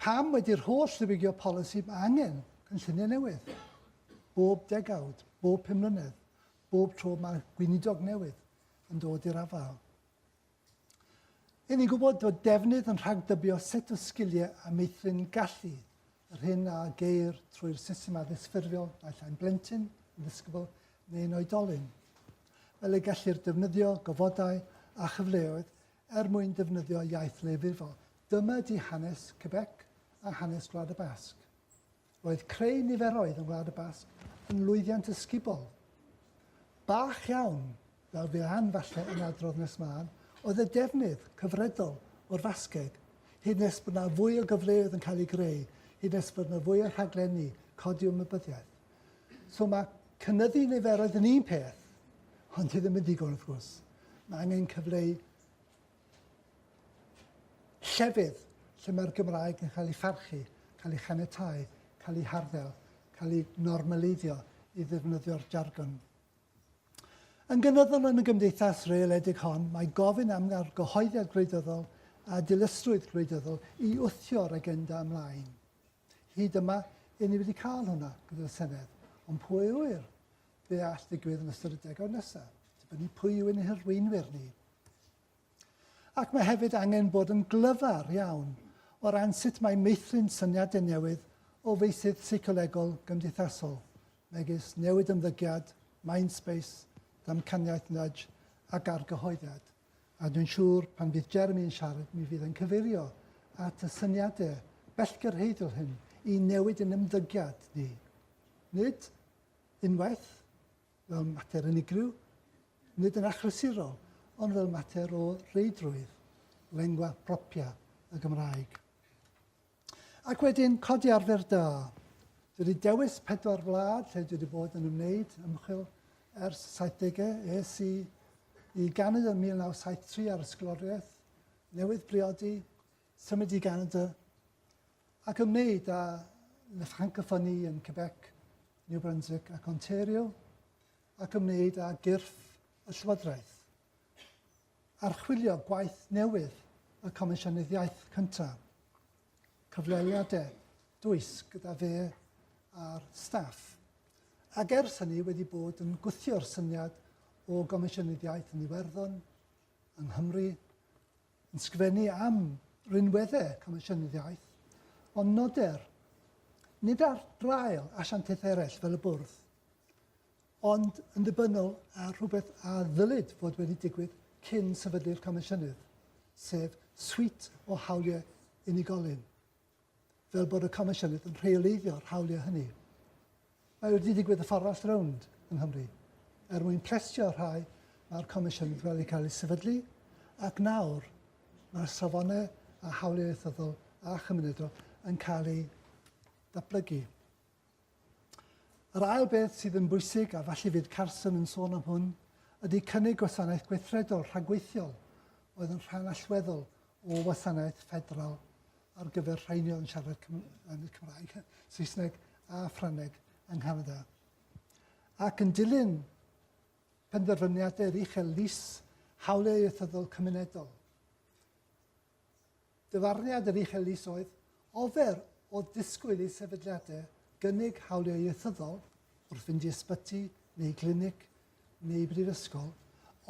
pam wedi'r holl ddiwygio polisi mae angen cynlluniau newydd? Bob degawd, bob pum mlynedd, bob tro mae gweinidog newydd yn dod i'r afael. Ry'n ni'n gwybod bod defnydd yn rhagdybio set o sgiliau a meithrin gallu, yr hyn a geir trwy'r system addysg ffurfiol naill ai'n blentyn, yn ddisgybl neu'n oedolyn. Fel y gellir defnyddio gofodau a chyfleoedd er mwyn defnyddio iaith leiafrifol. Dyma di hanes Quebec a hanes Gwlad y Basg. Roedd creu niferoedd yng Ngwlad y Basg yn lwyddiant ysgubol. Bach iawn, fel bydd Ann falle yn adrodd nes mân, oedd y defnydd cyfredol o'r Fasgeg, hyd nes bod na fwy o gyfleoedd yn cael eu greu, hyd nes bod na fwy o rhaglenni codi ymwybyddiaeth. So mae cynyddu niferoedd yn un peth, ond dwi ddim yn digon wrth gwrs. Mae angen cyfleu Llefydd lle mae'r Gymraeg yn cael ei pharchu, cael ei chaniatáu, cael ei harddel, cael ei normaleiddio i ddefnyddio'r jargon. Yn gynyddol yn y gymdeithas reeledig hon, mae gofyn am argyhoeddiad gwleidyddol a dilysrwydd gwleidyddol i wthio'r agenda ymlaen. Hyd yma, i ni wedi cael hwnna gyda'r Senedd, ond pwy a ŵyr be all ddigwydd yn ystod y degawd nesaf, dibynnu pwy yw ein hirweinwyr ni. Ac mae hefyd angen bod yn glyfar iawn o ran sut mae meithrin syniadau newydd o feysydd seicolegol gymdeithasol, megis newid ymddygiad, mind space, damcaniaeth nudge ac argyhoeddiad. A dwi'n siŵr pan fydd Jeremy yn siarad mi fydd e'n cyfeirio at y syniadau bellgyrhaeddol hyn i newid yn ymddygiad ni. Nid unwaith fel mater unigryw, nid yn achlysurol, ond fel mater o reidrwydd, lengua propria y Gymraeg. Ac wedyn, codi arfer da. Dwi wedi dewis pedwar wlad lle dwi wedi bod yn ymwneud ymchwil ers y 70au. Es i i Ganada yn 1973 ar ysgoloriaeth, newydd briodi, symud i Ganada, ac ymwneud â le francophonie yn Quebec, New Brunswick ac Ontario, ac ymwneud â gyrff y llywodraeth. Archwilio gwaith newydd y Comisiynydd Iaith cyntaf, cyfweliadau dwys gyda fe a'r staff, ac ers hynny wedi bod yn gwthio'r syniad o Gomisiynydd Iaith yn Iwerddon, yng Nghymru, yn sgrifennu am rinweddau Comisiynydd Iaith, ond noder, nid ar draul asiantaethau eraill fel y Bwrdd, ond yn ddibynnol ar rhywbeth a ddylid fod wedi digwydd cyn sefydlu'r Comisiynydd, sef swît o hawliau unigolyn, fel bod y Comisiynydd yn rheoleiddio'r hawliau hynny. Mae wedi digwydd y ffordd all rownd yng Nghymru. Er mwyn plesio rhai, mae'r Comisiynydd wedi cael ei sefydlu, ac nawr mae'r safonau a hawliau ieithyddol a chymunedol yn cael eu datblygu. Yr ail beth sydd yn bwysig, a falle fydd Carson yn sôn am hwn, ydy cynnig gwasanaeth gweithredol rhagweithiol oedd yn rhan allweddol o wasanaeth ffederal ar gyfer rheini oedd yn siarad Cymraeg, Saesneg a Ffrangeg yng Nghanada. Ac yn dilyn penderfyniadau'r uchel lys hawliau ieithyddol cymunedol, Dyfarniad yr Uchel Is oedd, Ofer oedd disgwyl i sefydliadau gynnig hawliau ieithyddol wrth fynd i ysbyty neu glinic neu brifysgol,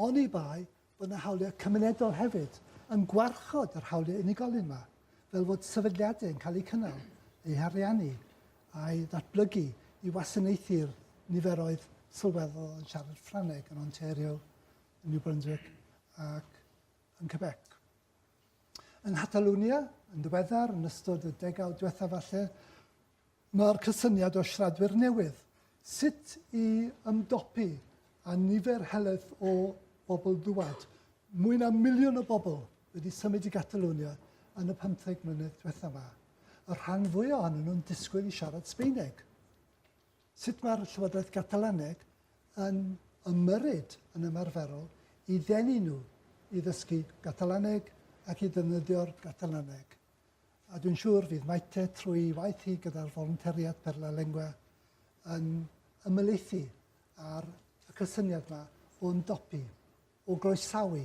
oni bai bod yna hawliau cymunedol hefyd, yn gwarchod yr hawliau unigolyn yma, fel fod sefydliadau yn cael eu cynnal, eu hariannu a'u datblygu i wasanaethu'r niferoedd sylweddol yn siarad Ffrangeg yn Ontario, New Brunswick ac yn Quebec. Yng Nghatalwnia, yn ddiweddar, yn ystod y degawd diwethaf falle, mae'r cysyniad o siaradwyr newydd, sut i ymdopi â nifer heledd o bobl dŵad. Mwy na miliwn o bobl wedi symud i Gatalwnia yn y 15 mlynedd diwethaf yma. Y rhan fwy ohonyn nhw'n disgwyl i siarad Sbeineg. Sut mae'r Llywodraeth Gatalaneg yn ymyrryd yn ymarferol i ddenu nhw i ddysgu Gatalaneg ac i ddefnyddio'r Gatalaneg, a dwi'n siŵr fydd Maite trwy'i waith hi gyda'r folontariaid Per la Lengua yn ymhelaethu ar y cysyniad yma o ymdopi, o groesawu,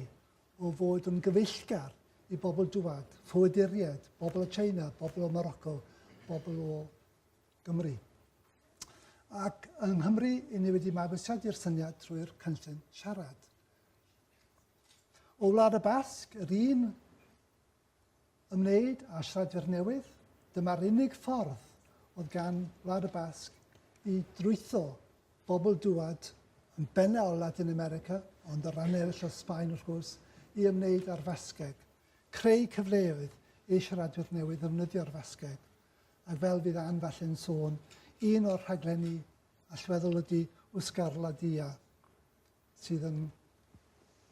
o fod yn gyfeillgar i bobl dŵad, ffoaduriaid, bobl o China, bobl o Morocco, bobl o Gymru. Ac yng Nghymru, i ni wedi mabwysiadu i'r syniad trwy'r cynllun siarad. O Wlad y Basg, yr un ymwneud â siaradwyr newydd, dyma'r unig ffordd oedd gan Wlad y Basg i drwytho bobl dŵad yn benna o Latin America, ond o ran eraill o Sbaen wrth gwrs, i ymwneud â'r Fasgeg, creu cyfleoedd i siaradwyr newydd ddefnyddio'r Fasgeg. a fel bydd Ann falle'n sôn, un o'r rhaglenni allweddol ydy Wsgar La Dia, sydd yn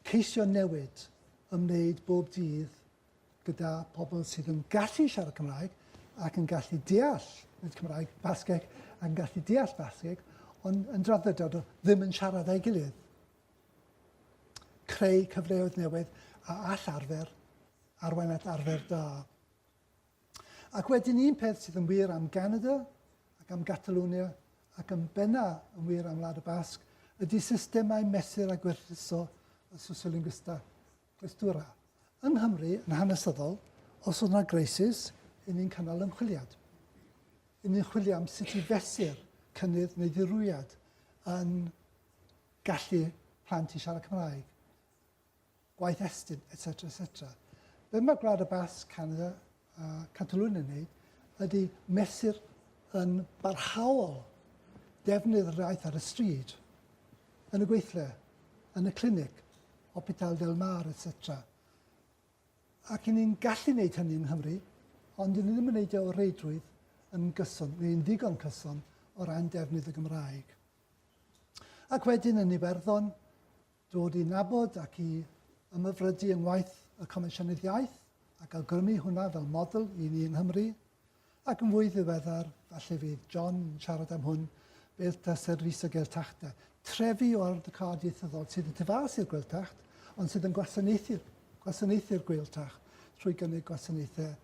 ceisio newid ymwneud bob dydd gyda pobl sydd yn gallu siarad Cymraeg ac yn gallu deall, nid Cymraeg, Basgeg, ac yn gallu deall Basgeg, ond yn draddodiad o ddim yn siarad â'i gilydd. Creu cyfleoedd newydd a all arfer arwain at arfer da. Ac wedyn un peth sydd yn wir am Ganada ac am Gatalunia ac yn benna yn wir am Wlad y Basg ydy systemau mesur a gwerthuso y sociolinguista clestura. Yng Nghymru, yn hanesyddol, os oedd yna greisis, yn ni'n cynnal ymchwiliad. Yn ni'n chwilio am sut i fesur cynnydd neu ddirwyiad yn gallu plant i siarad Cymraeg. gwaith Estyn, etc. etc. Be mae Gwlad y Basg, Canada a Catalwyn yn neud ydy mesur yn barhaol defnydd yr iaith ar y stryd, yn y gweithle, yn y clinic, Hopital Del Mar, etc. Ac yn ni'n gallu gwneud hynny yng Nghymru, ond yn ni ddim yn gwneud e o reidrwydd yn gyson, neu'n ddigon cyson o ran defnydd y Gymraeg. Ac wedyn yn Iwerddon, Dod i nabod ac i ymhyfrydu yng ngwaith y Comisiynydd Iaith, ac awgrymu hwnna fel model i ni yng Nghymru, ac yn fwy ddiweddar, falle fydd John yn siarad am hwn, Beirdd a Service y Gaeltacht, trefi o ardal cad ieithyddol sydd y tu fas i'r Gweiltacht, ond sydd yn gwasanaethu'r gwasanaethu'r Gweiltacht trwy gynnig gwasanaethau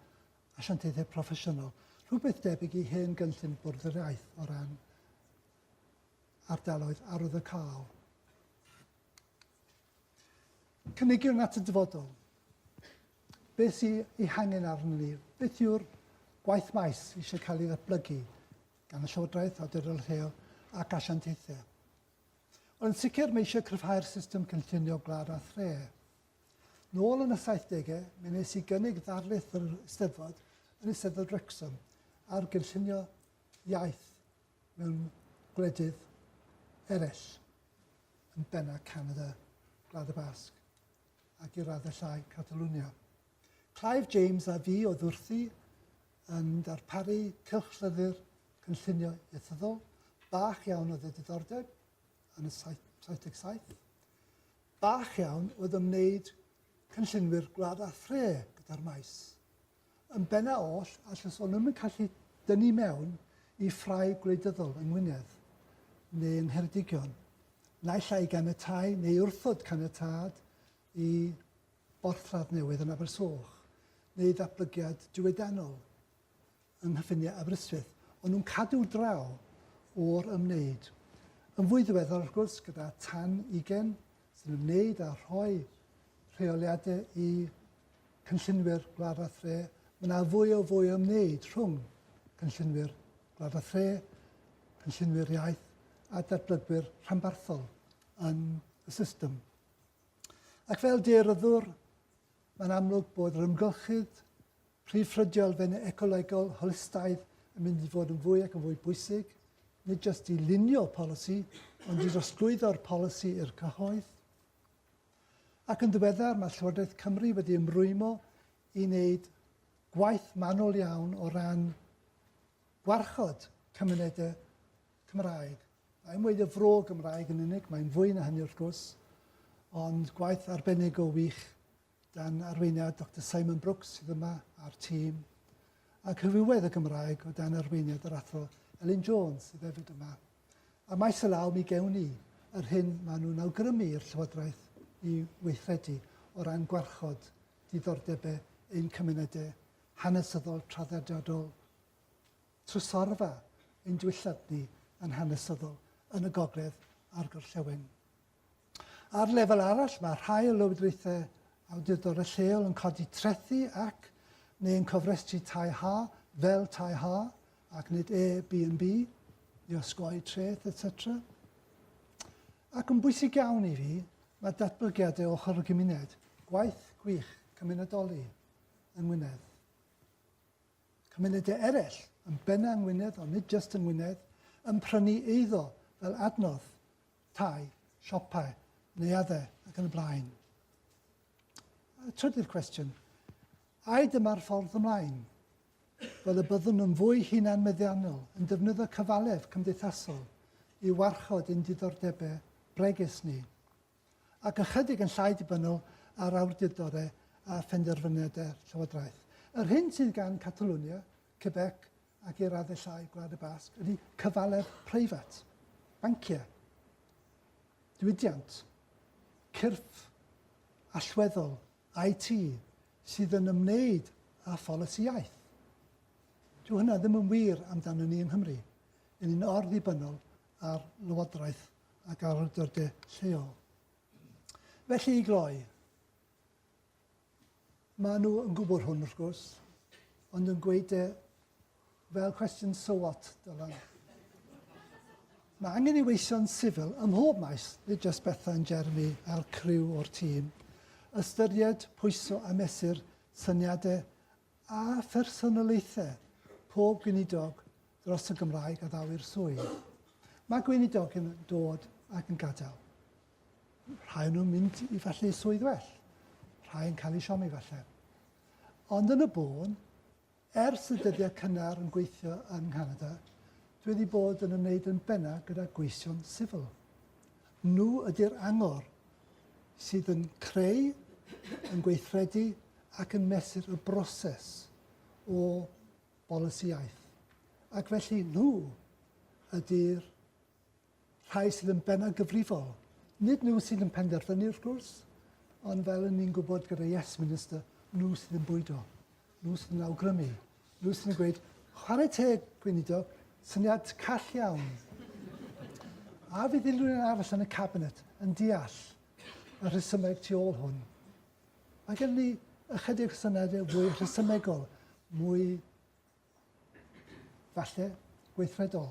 asiantaethau proffesiynol, rhywbeth debyg i hen gynllun y Bwrdd yr Iaith o ran ardaloedd arwyddocaol. Cynigion at y dyfodol. Beth sy'n ei hangen arnyn ni? Beth yw'r gwaith maes eisiau cael ei ddatblygu gan y Llywodraeth, Awdurdod Lleol ac Asiantaethau? Wel, yn sicr mae eisiau cryfhau'r system cynllunio gwlad a thre. Nôl yn y 70au, mi nes i gynnig ddarlith yr Eisteddfod yn Eisteddfod Wrexham ar gynllunio iaith mewn gwledydd eraill, yn bennaf Canada, Gwlad y Basg ac i raddau llai Catalwnia. Clive James a fi oedd wrthi yn darparu cylchlyddur cynllunio iethyddol. Bach iawn oedd y diddordeb yn y 77. Bach iawn oedd ymwneud cynllunwyr gwlad a thre gyda'r maes. Yn bennaf oll, a llyswn ddim yn gallu dynnu mewn i ffrae gwleidyddol yng Ngwynedd, neu yng Ngheredigion, naill ai i ganiatáu neu wrthod caniatâd i borthladd newydd yn Abersoch, neu ddatblygiad diwydiannol yng nghyffiniau Aberystwyth, ond nhw'n cadw draw o'r ymwneud. Yn fwy ddiweddar, wrth gwrs, gyda tan ugain sy'n ymwneud â rhoi rheoliadau i cynllunwyr gwlad a thre, mae yna fwy o fwy o wneud rhwng cynllunwyr gwlad a thre, cynllunwyr iaith a datblygwyr rhanbarthol yn y system. Ac fel deiryddwr, mae'n amlwg bod yr ymgylchydd Prif ffrydiol fenyw ecolegol holistaidd yn mynd i fod yn fwy ac yn fwy bwysig, nid jyst i lunio polisi, ond i drosglwyddo'r polisi i'r cyhoedd. Ac yn ddiweddar, mae Llywodraeth Cymru wedi ymrwymo i wneud gwaith manwl iawn o ran gwarchod cymunedau Cymraeg. Mae'n weid y fro Gymraeg yn unig, mae'n fwy na hynny wrth gwrs, ond gwaith arbennig o wych Dan arweiniad Doctor Simon Brooks sydd yma a'r tîm, a Cyfrifoedd y Gymraeg o dan arweiniad yr Athro Elin Jones sydd hefyd yma. A maes y law mi gewn ni yr hyn maen nhw'n awgrymu i'r Llywodraeth i weithredu o ran gwarchod diddordebau ein cymunedau hanesyddol traddodiadol trysorfa ein diwylliant ni yn hanesyddol yn y gogledd a'r gorllewin. Ar lefel arall, mae rhai o lywodraethau awdurdodau lleol yn codi trethi ac, neu yn cofrestru tai ha, fel tai ha, ac nid Airbnb, i osgoi treth, etc. Ac yn bwysig iawn i fi, mae datblygiadau ochr y gymuned, gwaith gwych cymunedoli yng Ngwynedd. Cymunedau eraill, yn benna yng Ngwynedd, ond nid just yng Ngwynedd, yn prynu eiddo fel adnodd tai, siopau, neuaddau ac yn y blaen. Y trydydd cwestiwn, ai dyma'r ffordd ymlaen? Fel y byddwn yn fwy hunan meddiannol yn defnyddio cyfalef cymdeithasol i warchod ein diddordebau bregus ni, ac ychydig yn llai dibynnol ar awdurdodau a phenderfyniadau llywodraeth. Yr hyn sydd gan Catalonia, Quebec, ac i'r arddellau Gwlad y Basg ydy cyfalef preifat, banciau, diwydiant, cyrff allweddol IT sydd yn ymwneud â pholisi iaith. Dyw hynna ddim yn wir amdano ni yng Nghymru. Yn ni'n orddibynnol ar lywodraeth ac ar awdurdodau lleol. Felly i gloi, Maen nhw yn gwybod hwn, wrth gwrs, ond yn gweud e fel cwestiwn so what, Dylan. Mae angen i weision sifil ym mhob maes, nid jyst Bethan, Jeremy a'r criw o'r tîm, ystyried, pwyso a mesur syniadau a phersonoliaethau pob gweinidog dros y Gymraeg a ddaw'r swydd. Mae gweinidog yn dod ac yn gadael. Rhai yn nhw'n mynd i falle i swydd well, rhai yn cael eu siomi falle. Ond yn y bôn, ers y dyddiau cynnar yn gweithio yng Nghanada, dwi wedi bod yn ymwneud yn benna gyda gweision sifil. Nhw ydy'r angor sydd yn creu, yn gweithredu ac yn mesur y broses o bolisi iaith. Ac felly nhw ydy'r rhai sydd yn bennaf gyfrifol. Nid nhw sydd yn penderfynu wrth gwrs, ond fel yn ni'n gwybod gyda Yes Minister, nhw sydd yn bwydo, nhw sydd yn awgrymu, nhw sydd yn gweud, chwarae teg, Gweinidog, syniad call iawn. A fydd unrhyw un arall yn y Cabinet yn deall y rhesymeg tu ôl hwn? Mae gen ni ychydig syniadau fwy rhesymegol, mwy falle, gweithredol.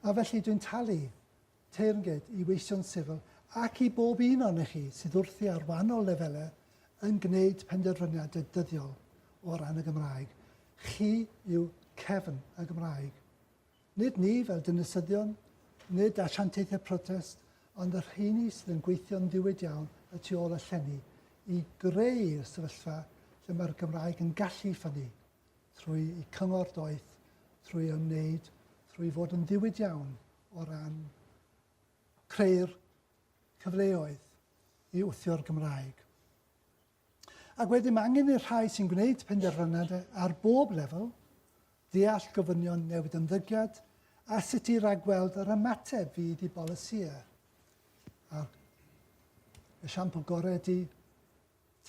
A felly dwi'n talu teyrnged i weision sifil ac i bob un ohonoch chi sydd wrthi ar wahanol lefelau yn gwneud penderfyniadau dyddiol o ran y Gymraeg. Chi yw cefn y Gymraeg. Nid ni fel dinasyddion, nid asiantaethau protest, ond y rheini sydd yn gweithio'n ddiwyd iawn y tu ôl y llenni i greu'r sefyllfa lle mae'r Gymraeg yn gallu ffynnu. trwy'u cyngor doeth, trwy ymwneud, trwy fod yn ddiwyd iawn o ran creu'r cyfleoedd i wthio'r Gymraeg. Ac wedyn mae angen i'r rhai sy'n gwneud penderfyniadau ar bob lefel ddeall gofynion newid ymddygiad a sut i ragweld yr ymateb fydd i bolisïau. A'r esiampl gorau ydy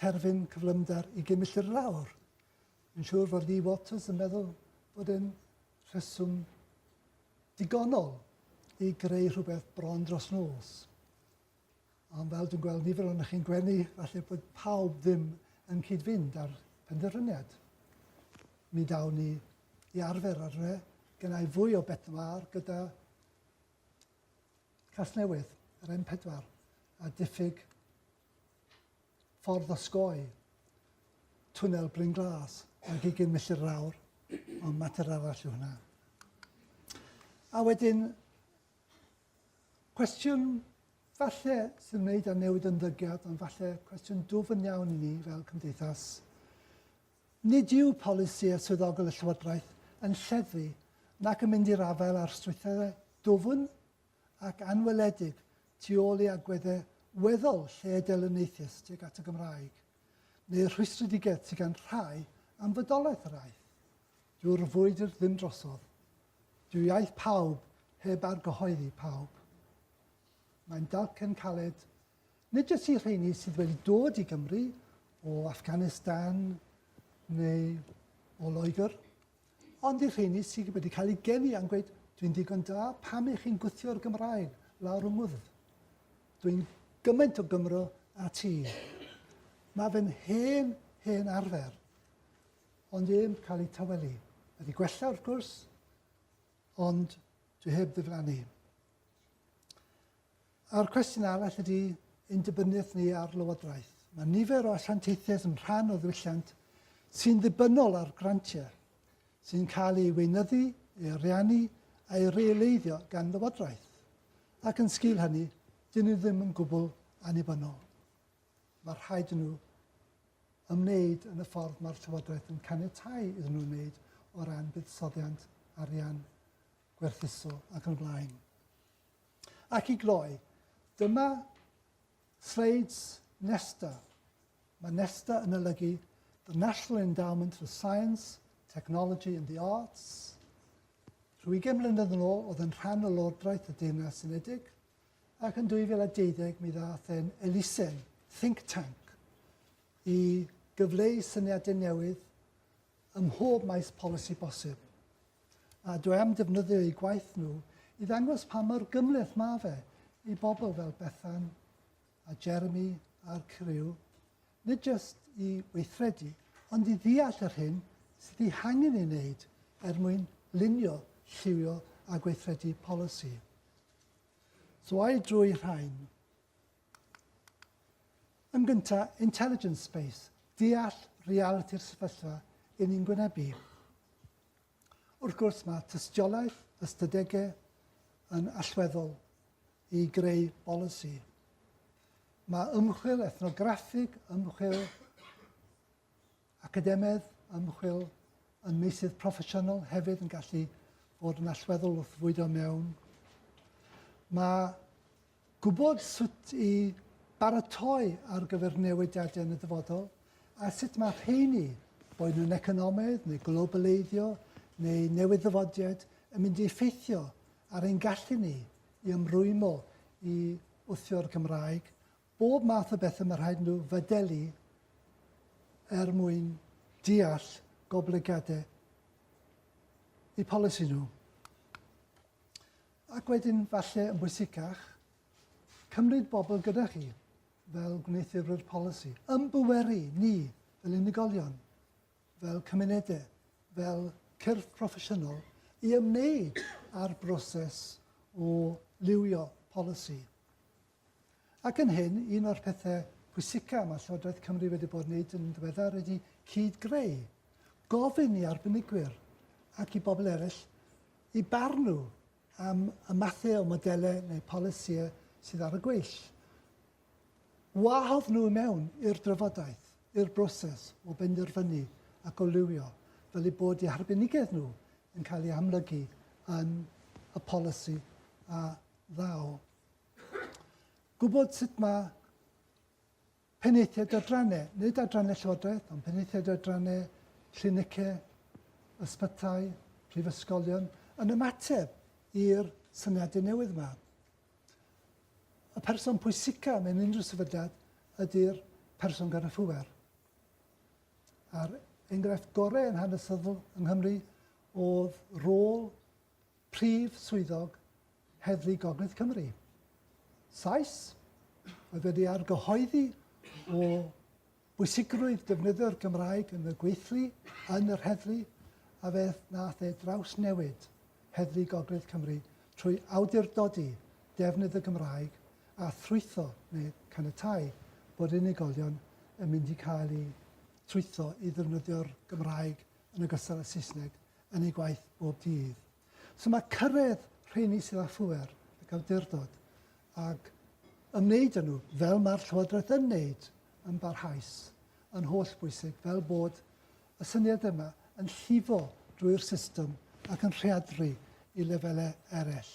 terfyn cyflymder i gymilli'r lawr. Yn siŵr fod Lee Waters yn meddwl bod e'n rheswm digonol i greu rhywbeth bron dros nos. Ond fel dwi'n gweld nifer o'n chi'n gwenu, falle bod pawb ddim yn cyd-fynd â'r penderfyniad. Mi dawn ni i arfer ar hynny, gynnau fwy o bet mar gyda Casnewydd, yr M4, a diffyg Ffordd osgoi, Twnnel Bryn Glas, ag ugain milltir yr awr, ond mater arall yw hwnna. A wedyn, cwestiwn falle sy'n wneud â newid ymddygiad, ond falle cwestiwn dwfn iawn i ni fel cymdeithas. Nid yw polisi a swyddogol y Llywodraeth yn lleddfu nac yn mynd i'r afael â'r strwythurau dwfn ac anweledig tu ôl i agweddau weddol lled-elyniaethus tuag at y Gymraeg, neu rhwystredigaeth sydd gan rhai am fodolaeth yr aeth. Dyw'r frwydr ddim drosodd. Dyw iaith pawb heb argyhoeddi pawb. Mae'n dalcen caled, nid jyst i rheini sydd wedi dod i Gymru o Afghanistan neu o Loegr, Ond i'r rheiny sydd wedi cael eu geni a'n gweud, dwi'n ddigon da, pam ych chi'n gwthio'r Gymraeg lawr yng ngwddf? Dwi'n gymaint o Gymro a ti. Mae fy hen, hen arfer, ond ef cael ei tawelu. Mae di gwella wrth gwrs, ond dwi heb ddiflannu. A'r cwestiwn arall ydy ein dibyniaeth ni ar Lywodraeth. Mae nifer o asiantaethau yn rhan o ddiwylliant sy'n ddibynnol ar grantiau sy'n cael ei weinyddu, ei ariannu a'i reoleiddio gan Lywodraeth. Ac yn sgil hynny, dyn nhw ddim yn gwbl annibynnol. Mae rhaid nhw ymwneud yn y ffordd mae'r Llywodraeth yn caniatau iddyn nhw wneud o ran buddsoddiant, arian, gwerthuso ac yn blaen. Ac i gloi, dyma sleids Nesta. Mae Nesta yn olygu The National Endowment for Science, Technology and the Arts. Rhyw 20 mlynedd yn ôl, oedd yn rhan o Lordraeth y Deyrnas Unedig, ac yn 2012 mi ddath e'n elusen, think tank, i gyfleu syniadau newydd ym mhob maes polisi bosib. A dwi am defnyddio eu gwaith nhw i ddangos pa mor gymhleth mae fe i bobl fel Bethan a Jeremy a'r criw, nid jyst i weithredu, ond i ddeall yr hyn sydd ei hangen ei wneud er mwyn lunio, lliwio a gweithredu polisi. So ai drwy rhain, Yn gyntaf, intelligence space, deall realiti'r sefyllfa i ni'n gwynebu. Wrth gwrs, mae tystiolaeth, ystadegau yn allweddol i greu bolisi. Mae ymchwil ethnograffig, ymchwil Academaidd ymchwil yn meysydd proffesiynol hefyd yn gallu bod yn allweddol wrth fwydo mewn. Mae gwybod sut i baratoi ar gyfer newidiadau yn y dyfodol a sut mae rheini, boed nhw'n economaidd neu globaleiddio neu newid ddyfodiad, yn mynd i effeithio ar ein gallu ni i ymrwymo i wthio'r Gymraeg, Bob math o bethe mae rhaid nhw fadelu er mwyn deall goblygiadau eu polisi nhw. Ac wedyn, falle yn bwysicach, cymryd bobl gyda chi fel gwneuthurwyr polisi, ymbweru ni fel unigolion, fel cymunedau, fel cyrff proffesiynol i ymwneud â'r broses o liwio polisi. Ac yn hyn, un o'r pethau pwysicaf mae Llywodraeth Cymru wedi bod yn wneud yn ddiweddar ydy cyd-greu, gofyn i arbenigwyr ac i bobl eraill i barnu am y mathau o modelau neu polisïau sydd ar y gweill. Wahodd nhw i mewn i'r drafodaeth, i'r broses o benderfynu ac o liwio, fel eu bod eu harbenigedd nhw yn cael ei amlygu yn y polisi a ddaw Gwybod sut mae penaethiaid adrannau, nid adrannau llywodraeth, ond penaethiaid adrannau, clinicau, ysbytai, prifysgolion, yn ymateb i'r syniadau newydd yma. Y person pwysica mewn unrhyw sefydliad ydy'r person gan y ffwer. A'r enghraifft gorau yn hanesyddol yng Nghymru oedd rôl Prif Swyddog Heddlu Gogledd Cymru, Sais, oedd wedi argyhoeddi o bwysigrwydd defnyddio'r Gymraeg yn y gweithlu yn yr heddlu a fe wnaeth e drawsnewid Heddlu Gogledd Cymru trwy awdurdodi defnydd y Gymraeg a thrwytho neu caniatáu bod unigolion yn mynd i cael eu trwytho i ddefnyddio'r Gymraeg yn ogystal â Saesneg yn eu gwaith bob dydd. So mae cyrraedd rheini sydd â phŵer ac awdurdod ac ymwneud â nhw, fel mae'r Llywodraeth yn wneud, yn barhaus, yn holl bwysig, fel bod y syniad yma yn llifo drwy'r system ac yn rheadru i lefelau eraill.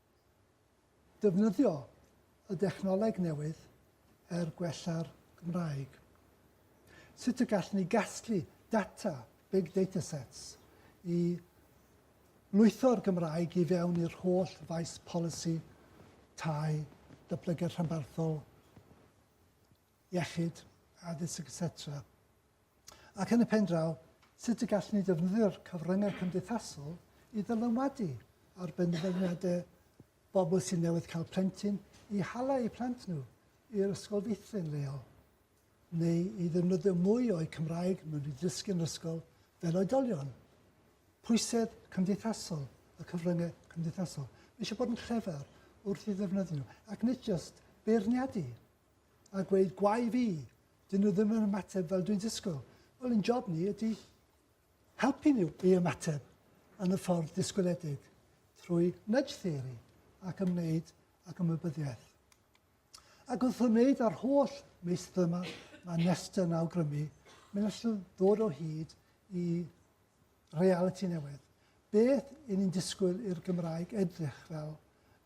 Defnyddio y dechnoleg newydd er gwella'r Gymraeg. Sut y gallwn ni gasglu data big data sets i lwytho'r Gymraeg i fewn i'r holl faes polisi, tai, datblygiad rhanbarthol, iechyd, addysg, etc. Ac yn y pen draw, sut y gallwn ni ddefnyddio'r cyfryngau cymdeithasol i ddylanwadu ar benderfyniadau bobl sy'n newydd cael plentyn i hala eu plant nhw i'r ysgol feithrin leol, neu i ddefnyddio mwy o'u Cymraeg mewn i ddysgu yn yr ysgol fel oedolion. Pwysedd cymdeithasol, y cyfryngau cymdeithasol. Mae eisiau bod yn llefer wrth i ddefnyddio nhw, ac nid jyst beirniadu a gweud gwae fi, dyn nhw ddim yn ymateb fel dwi'n disgwyl. Wel, yn job ni ydy helpu nhw i ymateb yn y ffordd disgwyledig trwy nudge theory ac ymwneud ac ymwybyddiaeth. Ac wrth ymwneud â'r holl meistr yma, mae Nesta yn awgrymu, mae'n allu ddod o hyd i realiti newydd, beth y'n ni'n disgwyl i'r Gymraeg edrych fel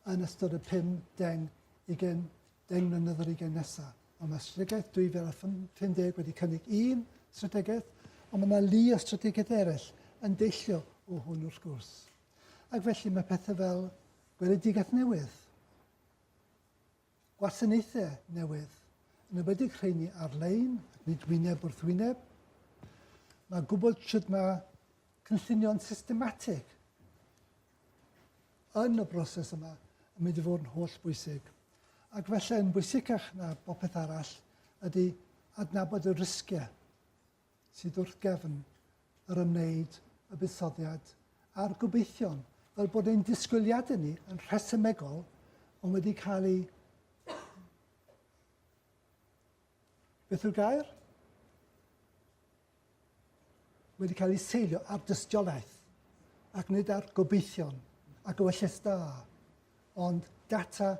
yn ystod y pum deng, ugain deng mlynedd yr ugain nesa'? Wel mae Strategaeth 2050 wedi cynnig un strategaeth, ond mae 'na lu o strategaethau eraill yn deillio o hwn wrth gwrs. Ac felly mae pethau fel gweledigaeth newydd, Gwasanaethau newydd, yn enwedig rheini ar-lein ac nid wyneb wrth wyneb. Mae gwybod sut mae cynllunio'n systematig yn y broses yma yn mynd i fod yn holl bwysig. Ac felly yn bwysicach na bopeth arall ydy adnabod y risgiau sydd wrth gefn yr ymwneud y buddsoddiad a'r gobeithion, fel bod ein disgwyliadau ni yn rhesymegol ond wedi cael ei beth yw'r gair? wedi cael ei seilio ar dystiolaeth ac nid ar gobeithion a gywyllus da, ond data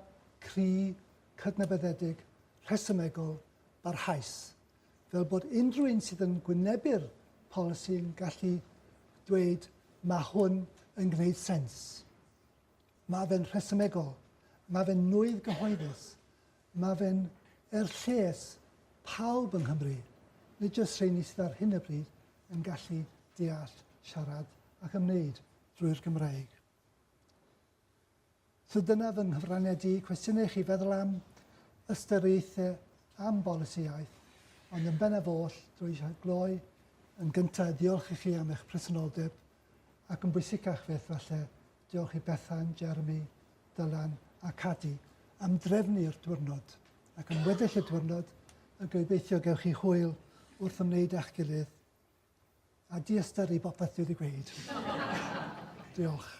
cry, cydnabyddedig, rhesymegol, barhaus fel bod unrhyw un sydd yn gwynebu'r polisi'n gallu dweud mae hwn yn gwneud sens. Mae fe'n rhesymegol, mae fe'n nwydd gyhoeddus, mae fe'n er lles pawb yng Nghymru, nid jyst rheini sydd ar hyn o bryd yn gallu deall, siarad ac ymwneud drwy'r Gymraeg. So dyna fy nghyfraniad i. Cwestiynau i chi feddwl am, ystyriaethau am bolisi iaith, ond yn bennaf oll, dwi eisiau gloi yn gyntaf diolch i chi am eich presenoldeb, ac yn bwysicach fyth falle, diolch i Bethan, Jeremy, Dylan a Cadi am drefnu'r diwrnod, ac am weddill y diwrnod, a gobeithio gewch chi hwyl wrth ymwneud â'ch gilydd. a diystyru popeth dwi wedi gweud. Diolch.